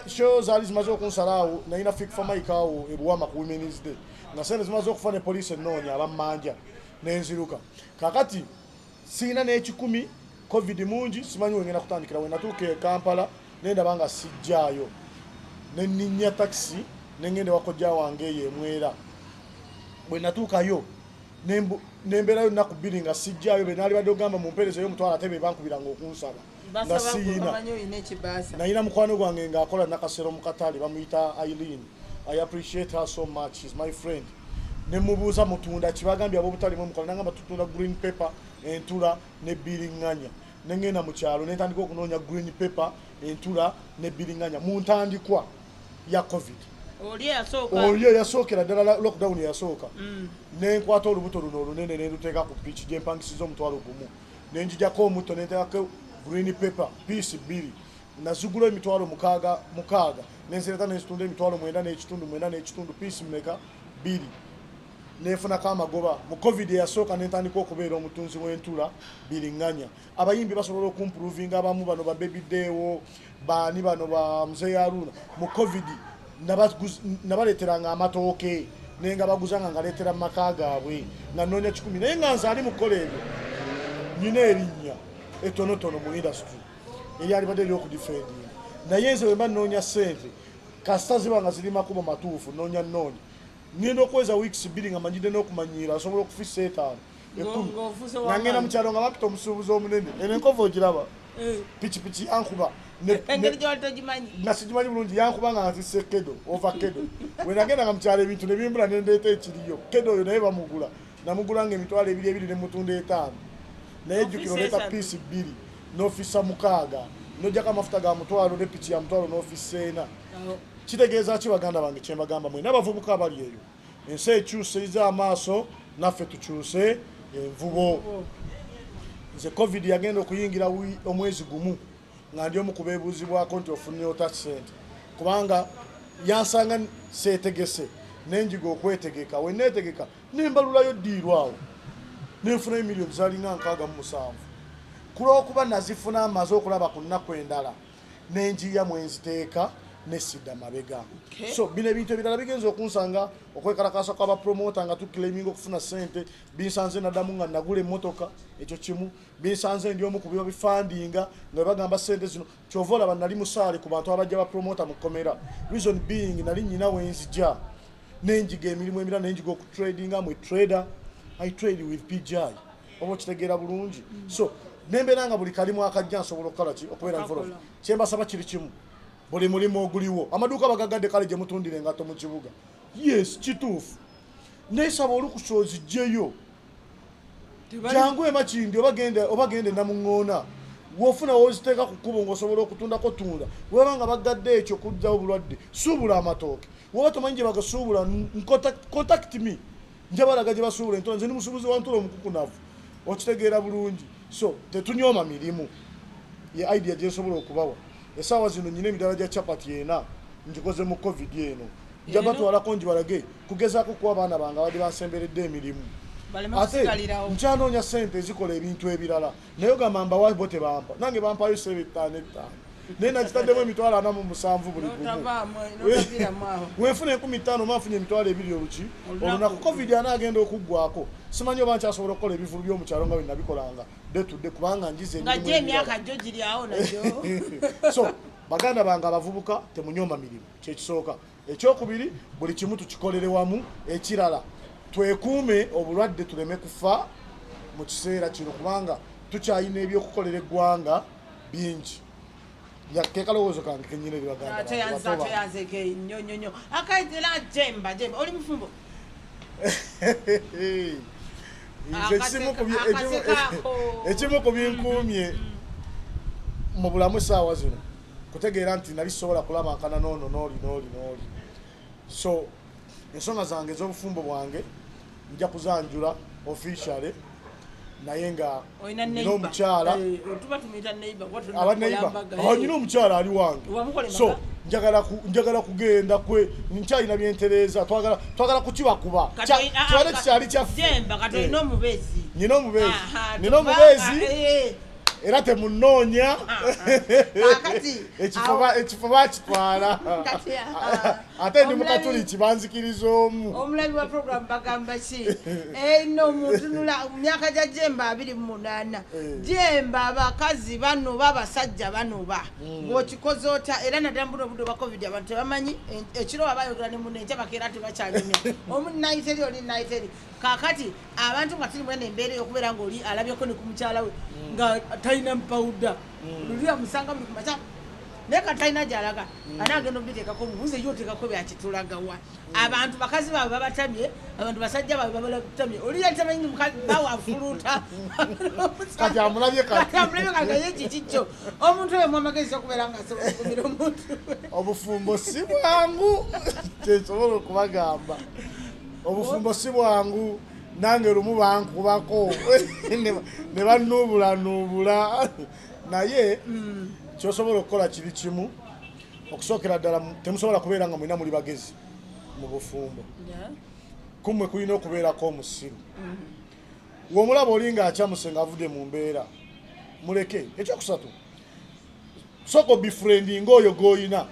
show zaali zimaze okunsalaawo nalina fikfa mike awo ebuwama ku womens day nga sente zimaze okufa ne poliisi ennoonya abammanja nenziruka kakati siina n'ekikumi covid mungi simanyi wengenda kutandikira wenatuuka e kampala nendaba nga sijjaayo nenninya takisi nengenda ewakojja wange eyo emwera bwe natuukayo nemberayo naku bbiri nga sijjayo benalibadde ogamba mumpereza yo omutwalo ate bebankubiranga okunsaba nga siyina nayina mukwano gwange ngaakola nakasero mukatale bamuyita eileen i appreciate her so much shes my friend nemubuuza mutunda kibagambye abobutalimu omukola nangamba tutunda green paper entula ne biringanya nengenda mukyalo nentandika okunoonya green paper entula ne biringanya muntandikwa ya covid oli eyasookera ddala lockdown eyasooka mm. nenkwata olubuto luno olunene nenduteeka ku piiki gyempangisiza omutwalo gumu nenjijako omutto nenteekako green paper piisi bbiri nazigula emitwalo mukaaga mukaaga nenzireta nenzitunda emitwalo mwenda n'ekitundu mwenda n'ekitundu piisi mmeka bbiri nefunako amagoba mu covid eyasooka nentandika okubeera omutunzi w'entula biringanya abayimbi basobola okumpuruvinga abamu bano ba baby dewo baani bano ba mzee yaruna mu covid nabaleeteranga amatooke naye nga baguzanga ngaleetera mu maka gaabwe nga noonya kikumi naye nga nze ali mu kukola ebyo nina erinnya etonotono mu industry eryalibadde eryokudifendinga naye nze wemba noonya sente kasita ziba nga ziri makubo matuufu noonya noonya ngenda okweza weeks bbiri nga manyidde n'okumanyiira asobola okufisa etaano nangenda mukyalo nga bapita omusuubuzi omunene eno enkova ogiraba eh. pikipiki yankuba eh, nasigimanyi bulungi yankuba nga nzise kedo ova kedo wenagenda nga mukyalo ebintu nebimbula nendeeta ekiriyo kedo oyo naye bamugula namugula nga emitwalo ebiri ebiri nemutunda etaano naye jukira oleeta piisi bbiri nofisa mukaaga nojako amafuta ga mutwalo ne piki ya mutwalo nofisa ena kitegeeza ki baganda bange kyembagamba mwena abavubuka abali eyo ensi ekyuse ize amaaso naffe tukyuse envubo nze covid yagenda okuyingira omwezi gumu nga ndi omu kubeebuuzibwako nti ofunye ota sente kubanga yansanga seetegese nenjiga okwetegeka weneetegeka nembalulayo ddiirwawo nenfunayo miliyoni zalinga nkaaga mu musanvu kulwokuba nazifuna amaze okulaba ku nnaku endala nenjiya mwenziteeka nesida mabega okay. so bino ebintu ebirala bigenza okunsanga okwekalakasa kwabapromota nga tuclaiming okufuna sente binsanze nadamu nga nagula emotoka ekyo kimu binsanze ndi omu kubiba bifandinga nga webagamba sente zino kyova olaba nali musaale ku bantu abajja bapromota mukomera reason being nali nyina wenzija nenjiga emirimu emirala nenjiga okutradinga mwe trader i trade with pgi oba okitegeera bulungi so nembeera nga buli kalimu akajja nsobola okukola ki okubeera nvolo kyembasaba kiri kimu buli mulimu oguliwo amaduuka bagagadde kale gye mutundira engatto mu kibuga yes kituufu nesaba olukusa ozijjeyo jangu emakindi oba genda enamuŋoona wofuna woziteeka ku kkubo ngaosobola okutundako tunda weba nga bagadde ekyo kujjawo bulwadde suubula amatooke woba tomanyi gye bagasuubula contact me njabalaga gye basuubula entula nze ndi musuubuzi wa ntula omukukunavu okitegeera bulungi so tetunyooma mirimu ye idea gye nsobola okubawa esaawa zino nyina emitala gya chapati ena ngikoze mu covid eno nja batwalako ngibalage kugezaako kuwa abaana bange abadde bansemberedde emirimu ate nkyanoonya sente ezikola ebintu ebirala naye ogamba mbawa bo tebampa nange bampayo sebe ettaano ettaano naye nakitaddemu emitwalo ana mu musanvu buli gumu wenfuna enkumi ttaano oba nfunye emitwalo ebiri oluki olunaku covid ana agenda okuggwako simanyi oba nkyasobola okukola ebivulu byomukyalo nga bwenabikolanga detudde kubanga njize so baganda bange abavubuka temunyoma mirimu kyekisooka ekyokubiri buli kimu tukikolere wamu ekirala twekuume obulwadde tuleme kufa mu kiseera kino kubanga tukyalina ebyokukolera eggwanga bingi yatekalowoozo kange kenyina ebibagandaeyanzekenyonyonyo akaitela jemba jemba oli mufumbo ekimu ku binkuumye mu bulamu saawa zino kutegeera nti nali sobola kulabankana noono nooli nooli nooli so ensonga zange ez'obufumbo bwange nja kuzanjula officially naye nga nina omukyala eh, abaneiba oh, nina omukyala ali wange so njagala kugenda kwe nkyalina byentereeza twagala kukibakuba kikyali kyaffe nina omubeezi nina omubeezi era temunoonya ekifo bakitwala ate ndi mukatuli kibanzikiriza omu omulabi wa program bagamba ki eno eh, mutunula myaka gya jemba abiri mu munaana eh. jemba abakazi banoba abasajja banoba hmm. ng'okikoze otya era naddala mbuno obudde obwa covid abantu tebamanyi ekiro wabayogera ne muno enkya bakeera tebakyanyumya omu nayiteri oli nayiteri kakati abantu nga tuli mwene embeera eyokubeera nga oli alabyeko ne ku mukyala we mm. nga talina mpawuda mm. luli amusanga buli kumaca naye katalina gyalaga mm. ana agenda obiteekako mubuze yo oteekako byakitulagawa abantu bakazi baabwe babatamye abantu basajja baabwe babatamye oli yatamanyi bawe afuluuta kati amulabye kakaye kikikyo omuntu oyo mwamagezi okubeera nga asobola okumira omuntu obufumbo si bwangu kyesobola okubagamba obufumbo si bwangu nange lumu bankubako ne banuubulanuubula naye mm. kyosobola okukola kiri kimu okusookera ddala temusobola kubeera nga mulina muli bagezi mu bufumbo kumwe kulina okubeerako omusiru mm-hmm. womulaba oli nga akyamuse nga avudde mu mbeera muleke ekyokusatu sooka obifriendinga oyo gwoyina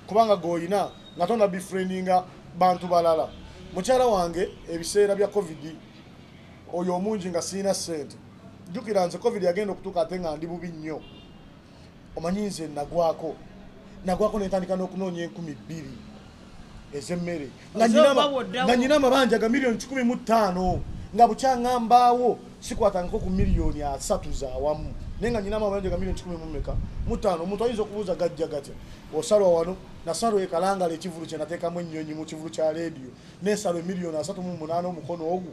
kubanga gwoyina nga tona bifriendinga bantu balala mukyala wange ebiseera bya covid oyo omungi nga sirina sente jukira nze covid yagenda okutuuka ate nga ndi bubi nnyo omanyi nze nagwako nagwako nentandika n'okunoonya enkumi bbiri ezemmere nga nyina amabanja ga miliyoni kikumi mu ttaano nga bukyangambaawo sikwatangako ku miliyoni asatu zawamu naye nga nyina amabanja ga miliyoni kikumi mumeka mu ttaano omuntu ayinza okubuuza gajja gatya osalwa wano nasalo ekalangala ekivulu kye nateekamu ennyonyi mu kivulu kya leediyo nesalwa emiliyoni asatu mu munaana omukono ogu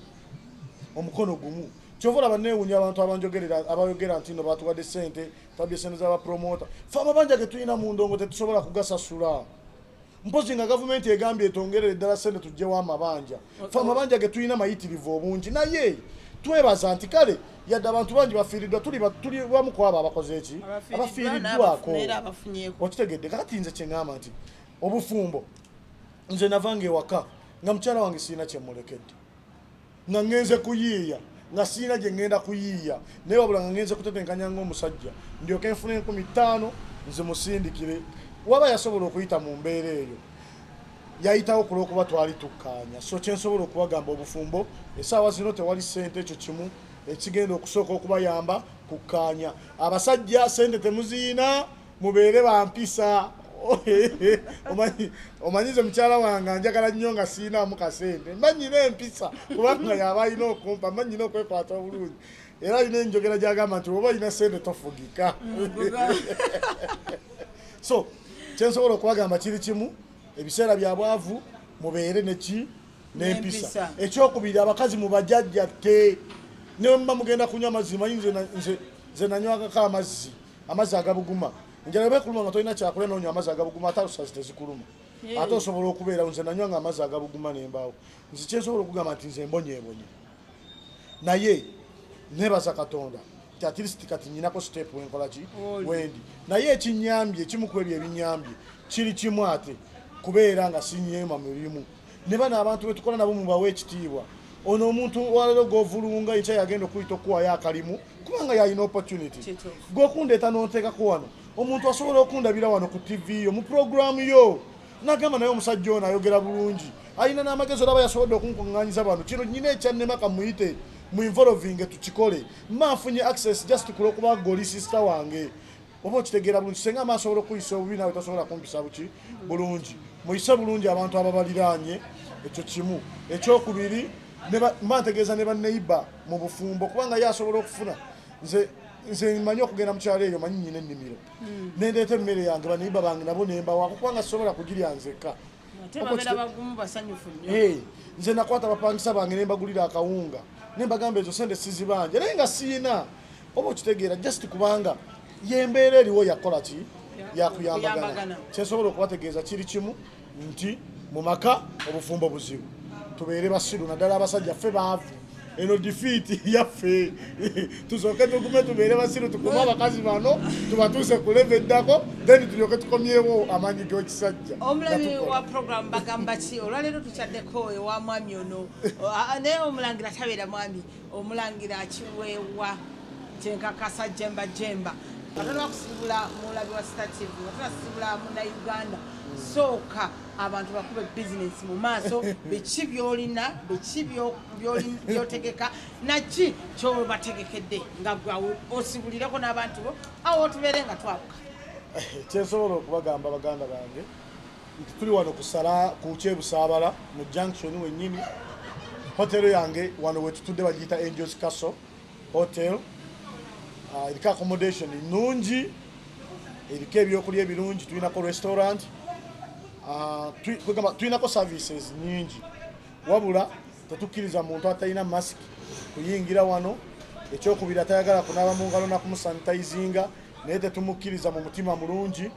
omukono gumu kyova olaba newunya abantu abanjogerera abayogera nti no batuwadde sente twabye sente zabapromota fe amabanja getulina mu ndongo tetusobola kugasasula mpozi nga gavumenti egambye etongerere ddala sente tugyewo amabanja fe amabanja ge tulina mayitirivu obungi naye twebaza nti kale yadde abantu bangi bafiiriddwa tuli bamu ku abo abakoze eki abafiiriddwako okitegedde kakati nze kyeŋamba nti obufumbo nze navanga ewaka nga mukyala wange sirina kyemulekedde nga ngenze kuyiiya nga sirina gye ngenda kuyiiya naye wabula nga ngenze kutetenkanya ngaomusajja ndyoka enfuna enkumi ttaano nzimusindikire waba yasobola okuyita mu mbeera eyo yayitawo ku lwokuba twali tukkaanya so kyensobola okubagamba obufumbo esaawa zino tewali ssente ekyo kimu ekigenda okusooka okubayamba kukkaanya abasajja ssente temuziyina mubeere bampisa omanyize mukyala wange anjagala nnyo nga siinamu kasente mba nyina empisa kubanga yaba alina okumpa mba nyina okwekwata obulungi era alina enjogera gyagamba nti oba olina sente tofugika so kyensobola okubagamba kiri kimu ebiseera bya bwavu mubeere neki nempisa ekyokubiri abakazi mubajajja te newemuba mugenda kunywa amazzi manyi nze nanywakako amazzi amazzi agabuguma enjala bwe kuluma nga tolina kyakulya n'onywa amazzi agabuguma ate alusazi tezikuluma ate osobola okubeerawo nze nanywa nga amazzi agabuguma ne mbaawo nze kyensobola okugamba nti nze mbonyeebonye naye nebaza katonda nti at least kati nyinako step wenkola ki wendi naye ekinyambye ekimu ku ebyo ebinyambye kiri kimu ate kubeera nga sinyeema mirimu ne bano abantu betukola nabo mubawa ekitiibwa ono omuntu walero govulunga enkya yagenda okuyita okuwayo akalimu kubanga yalina opportunity gwokundeeta nonteekako wano omuntu asobola okundabira wano ku tv yo mu programu yo nagamba naye omusajja ono ayogera bulungi alina n'amagezi olaba yasobodde okunkuŋŋanyiza bano kino nyina ekyannema kamuyite mu involvinge tukikole manfunye access just kulwokuba goli sister wange oba okitegeera bulungi senga ama asobola okuyisa obubi nawe tasobola kumpisa buki bulungi muyise bulungi abantu ababaliraanye ekyo kimu ekyokubiri mba ntegeeza ne baneiba mu bufumbo kubanga ye asobola okufuna nze nze manyi okugenda mukyalo eyo manyi nyina ennimiro hmm. nendeeta emmere yange baneiba bange nabo nembawaako kubanga sisobola kugirya nzekka eh, nze nakwata bapangisa bange nembagulira akawunga nembagamba ezo sente sizibanja naye nga siina oba okitegeera just kubanga yembeera eriwo yakola ki yakuyambagana kyensobola okubategeeza kiri kimu nti mu maka obufumbo buzibu tubeere basiru naddala abasajja ffe baavu eno difiiti yaffe tusooke tugume tubeere basiru tukume abakazi bano tubatuuse ku leve eddako then tulyoke tukomyewo amaanyi g'ekisajja omulabi wa program bagamba ki olwaleero tukyaddeko ewa mwami ono naye omulangira tabeera mwami omulangira akiweewa kyenkakasa jemba jemba atanakusibula mulabi wa star tv atanasibula munauganda sooka abantu bakube bizinesi mu maaso biki byolina biki byotegeka naki kyobategekedde nga gwe osibulireko n'abantu bo awo otubeere nga twabuka kyensobola okubagamba baganda bange nti tuli wano kusala ku kyebusaabala mu junction wenyini hotero yange wano wetutudde bagiyita angels castle hotel uh, eriko accommodation nungi eriko ebyokulya ebirungi tulinako restaurant uh, tulinako services nyingi wabula tetukkiriza muntu atalina mask kuyingira wano ekyokubiri atayagala kunaaba mu ngalo nakumusanitizinga naye tetumukkiriza mu mutima mulungi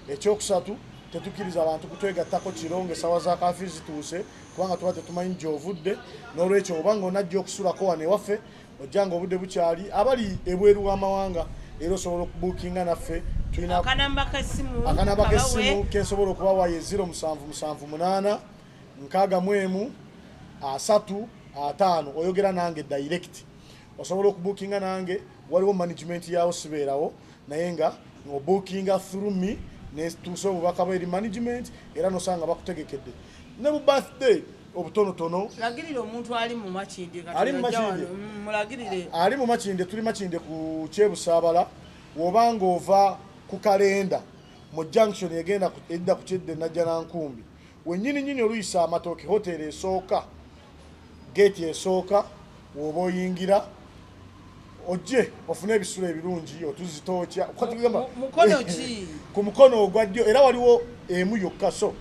ekyokusatu tetukkiriza abantu kutwegattako kiro ngaesawa za kafi zituuse kubanga tuba tetumanyi gyovudde n'olwekyo oba nga onajja okusulako wano ewaffe ojja nga obudde bukyali abali ebweru w'amawanga era osobola okubukinga naffe akanamba kesimu kensobola okubawa ye 0778 nkaaga mu emu asatu ataano oyogera nange direct osobola okubukinga nange waliwo management yawo sibeerawo naye nga obukinga through me netuusa obubaka bwe eri management era nosanga bakutegekedde ne bu birthday obutonotono lagirira omuntu ali mu makinde ali mu makinde mm, mulagirire ali mu makinde tuli makinde ku kyebusaabala woba ng'ova ku kalenda mu junction egenda edda ku kyedde najjanankumbi wenyini nyini oluyisa amatooke hoteeri esooka geeti esooka woba oyingira ojje ofune ebisulo ebirungi otuzitookya ku mukono ogwa ddyo era waliwo emu yokka so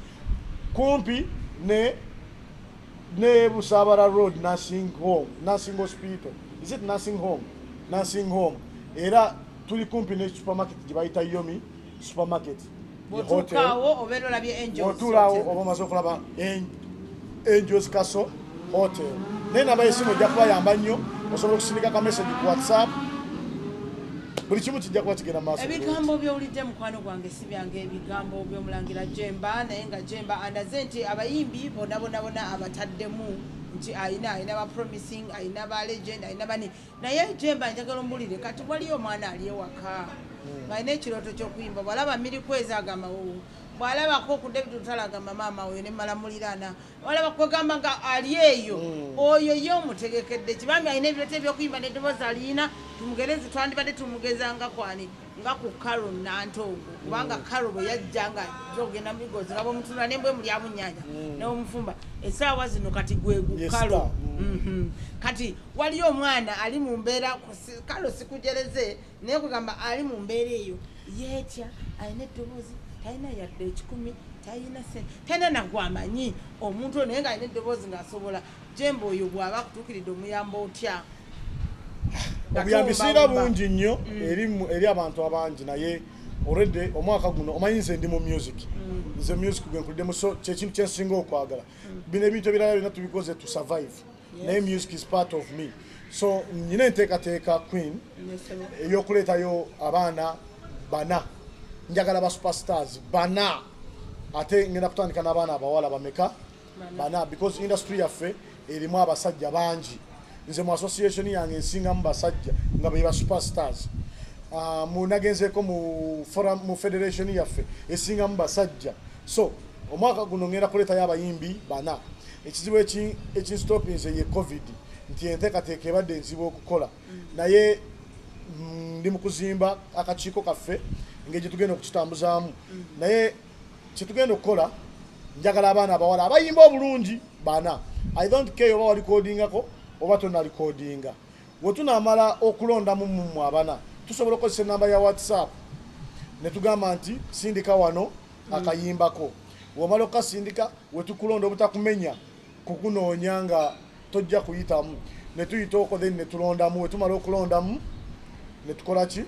kumpi ne ne busabara road nursing home nursing hospital is it nursing home nursing home era tuli kumpi ne supermarket gye bayita yomi supermarket otulawo oba omaze okulaba angels castle hotel naye namba yesimu ejja kubayamba nnyo osobola okusindika ka message ku whatsapp buli kimu kijja kuba kigenda maaso ebigambo byowulidde mukwano gwange si byange ebigambo byomulangira jemba naye nga jemba andaze nti abayimbi bonabonabona abataddemu nti ayina ayina ba promising ayina ba legend ayina bani naye jemba njagala ombulire kati waliyo omwana ali ewaka hmm. ng'alina ekirooto ky'okuyimba bwalaba mirikwezi agamba wowo bwalabako ku david lutala agamba maama oyo ne malamulirana bwalaba kwegamba nga ali eyo hmm. oyo ye omutegekedde kibambi alina ebirooto ebyokuyimba n'eddoboozi alina tumugerezi twandibadde tumugezangakwani nga ku karo nantongo kubanga karo bwe yajja nga zogenda mubigozi nga bwemutuna nembwe muli abunyanya mm. newomufumba esaawa zino kati gwegu karo mm-hmm. kati waliyo omwana ali mu mbeera karo sikujereze naye kugamba ali mu mbeera eyo yetya alina eddoboozi talina yadde ekikumi talina sente talina nagwamanyi omuntu naye nga alina eddoboozi ngaasobola jemba oyo bwaba akutuukiridde omuyamba otya obuyambi singa bungi nnyo mm. eri abantu abangi naye already omwaka guno omanyi nze ndi mu music mm. nze music gwenkuliddemu so kyekintu kyensinga okwagala mm. bino ebintu ebirala byonna tubikoze to survive naye music is part of me so nyina enteekateeka queen eyokuleetayo abaana bana njagala ba superstars bana ate ngenda kutandika n'abaana abawala bameka bana because industry yaffe erimu abasajja bangi nze mu association yange ensingamu basajja nga beba superstars ah, munagenzeeko mu forum mu federation yaffe esingamu basajja so omwaka guno ngenda kuleetayo abayimbi bana ekizibu ekinstopinze ye covid nti enteekateeka ebadde enzibu okukola mm. naye mm, ndi mu kuzimba akakiiko kaffe ngeri gyetugenda okukitambuzaamu mm. naye kyetugenda okukola njagala abaana abawala abayimba obulungi bana i don't care oba walikodingako oba tonalikodinga wetunamala okulondamu mumwe abana tusobola okukozesa enamba ya whatsapp netugamba nti sindika wano mm. akayimbako womala okukasindika wetukulonda obutakumenya kukunoonya nga tojja kuyitamu netuyita oko then netulondamu wetumala okulondamu netukolaki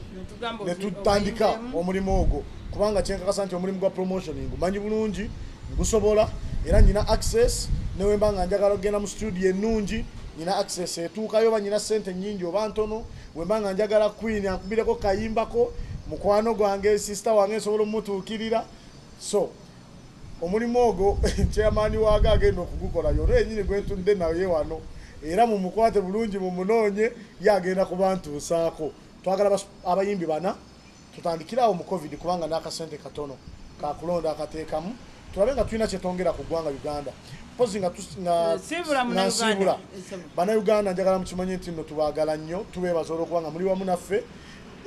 netutandika omulimu ogwo kubanga kyenkakasa nti omulimu gwa promotioning manyi bulungi ngusobola era nyina access newemba nga njagala okugenda mu studio enungi nyina access etuukayo oba nyina sente nyingi oba ntono wemba nga njagala queen ankubireko kayimbako mukwano gwange sister wange nsobola omutuukirira so omulimu ogwo chairman waago agenda okugukola yono yenyini gwetudde naye wano era mumukwate bulungi mumunoonye ye agenda kubantuusaako twagala abayimbi bana tutandikiraawo mu covid kubanga n'akasente katono kakulonda akateekamu tulabe nga tulina kyetwongera ku ggwanga uganda mpozi nga nsiibula banauganda njagala mukimanye nti no tubagala nnyo tubeebaza olwokuba nga muli wamu naffe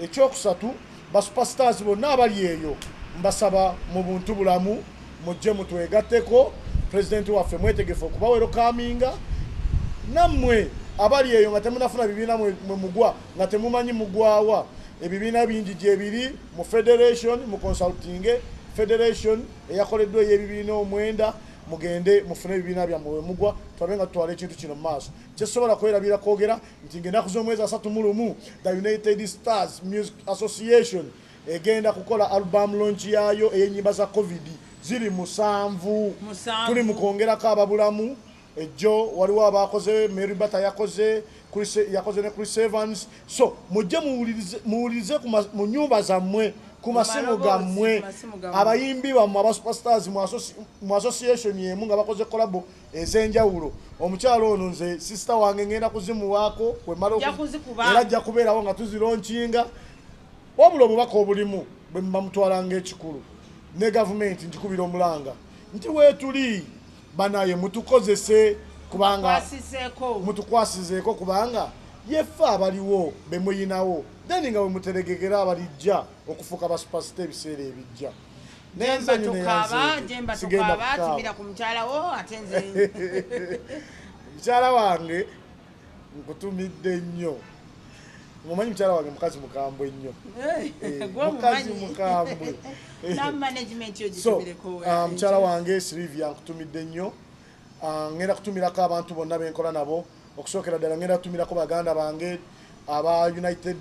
Ekyokusatu, basupasitaazi bonna abali eyo mbasaba mu buntu bulamu mujje mutwegatteko pulezidenti waffe mwetegefu okubawero kaminga nammwe abali eyo nga temunafuna bibiina mwe mugwa nga temumanyi mugwawa ebibiina bingi gyebiri mu federation mu consultinge federation eyakoleddwa ey'ebibiina omwenda mugende mufune ebibiina byammwe wemugwa tulabe nga tutwala ekintu kino mu maaso kyesobola kwerabira kwogera nti ng'ennaku z'omwezi asatu mu lumu the united stars music association egenda kukola album lonki yaayo ey'ennyimba za covid ziri musanvu tuli mu kwongerako ababulamu ejjo waliwo abakoze mary bata yakoze yakoze ne chris evans so mujje muwulirize mu nyumba zammwe ku masimu gammwe abayimbi bammwe abasuperstars mu association emu nga bakoze kolabo ez'enjawulo omukyalo ono nze sisita wange ngenda kuzimuwaako wemala era ajja kubeerawo nga tuzironkinga wabula obubaka obulimu bwe muba mutwala ngaekikulu ne gavumenti njikubira omulanga nti weetuli banaye mutukozese kubanga mutukwasizeeko kubanga yeffe abaliwo bemuyinawo then nga wemuteregekera abalijja okufuuka basupasita ebiseera ebijja nembatukaba jembatukaba timira ku mukyala wo ate nze mukyala wange nkutumidde nnyo mumanyi mukyala wange mukazi mukambwe nnyo eh, mukazi mukambwe so ah, mukyala wange silivia nkutumidde nnyo ah, ngenda kutumirako abantu bonna benkola nabo okusookera ddala ngenda tumirako baganda bange aba united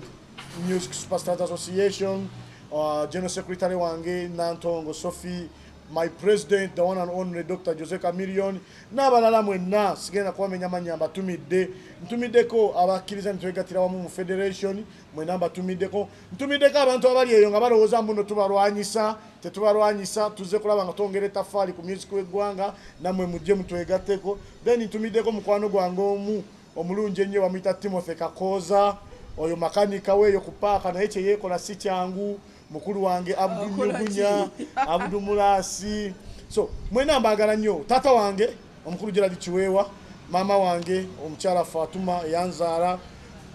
music superstars association uh, general secretary wange nantongo sophie my president the one and only dr jose camillion n'abalala mwenna sigenda kubamenya mannya mbatumidde ntumiddeko abakkiriza nitwegatira wamu mu federation mwena mbatumiddeko ntumiddeko abantu abali eyo nga balowooza mbuno tubalwanyisa tetubalwanyisa tuzze kulaba nga twongera etafaali ku music w'eggwanga nammwe mujje mutwegatteko then ntumiddeko mukwano gwange omu omulungi ennyo bamuyita timothy kakooza oyo makanika weeyo ku paaka naye kyeyeekola si kyangu mukulu wange abdu nyugunya abdu mulaasi so mwena mbaagala nnyo taata wange omukulu Gerald Kiweewa, maama wange omukyala Fatuma eyanzaala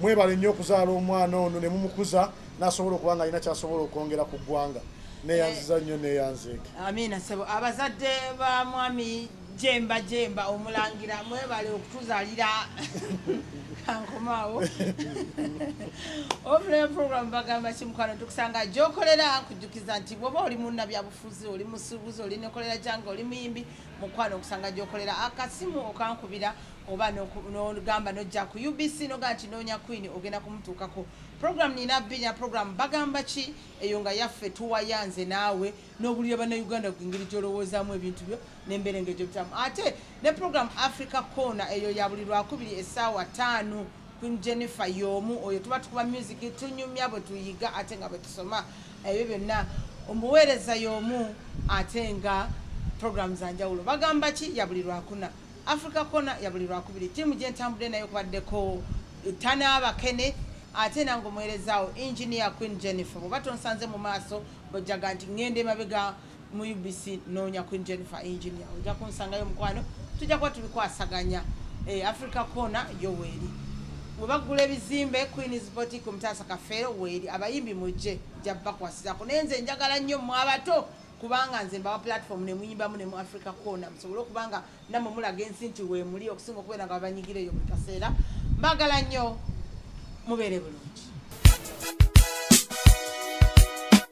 mwebale nnyo okuzaala omwana ono ne mumukuza n'asobola okuba nga alina ky'asobola okwongera ku ggwanga neyanziza nnyo neyanzeeke amiina sebo abazadde ba mwami jemba jemba omulangira mwebale okutuzalira kankomaawo obulayo program bagamba kimukwano tukusanga gyokolera kujjukiza nti bwoba oli munna byabufuzi oli musuubuzi oli nekolera jange oli muyimbi mukwano okusanga gyokolera akasimu ah, okankubira oba nogamba nojja ku ubc nogaa nti noonya queen ogenda kumutuukako program nina binya program bagamba ki eyo nga yaffe tuwayanze naawe n'obulira bannauganda engeri gyolowoozamu ebintu byo nembeera engeri gyobitamu ate ne program africa corner eyo ya buli lwakubiri essaawa taano queen jennifer y'omu oyo tuba tukuba music tunyumya bwe tuyiga ate nga bwe tusoma ebyo byonna omuweereza y'omu ate nga programu za njawulo bagamba ki ya buli lwakuna africa kona ya buli lwakubiri tiimu gye ntambudde nayo kwaddeko tanaabakene ate nange omuweerezaawo engineer queen jennifer bwebatonsanze mu maaso bojjaga nti ŋŋenda emabega mu UBC noonya Queen Jennifer Engineer ojja kunsangayo mukwano tujja kuba tubikwasaganya eh, Africa Corner yo weeri we baggula ebizimbe Queen's Boutique omutaasa kafeero weeri abayimbi mujje jja bakwasizako naye nze njagala nnyo mu abato kubanga nze mbawa platform ne muyimbamu ne mu Africa Corner musobole okuba nga namwe mulaga ensi nti weemuli okusinga okubeera nga babanyigira eyo buli kaseera mbagala nnyo mubeere bulungi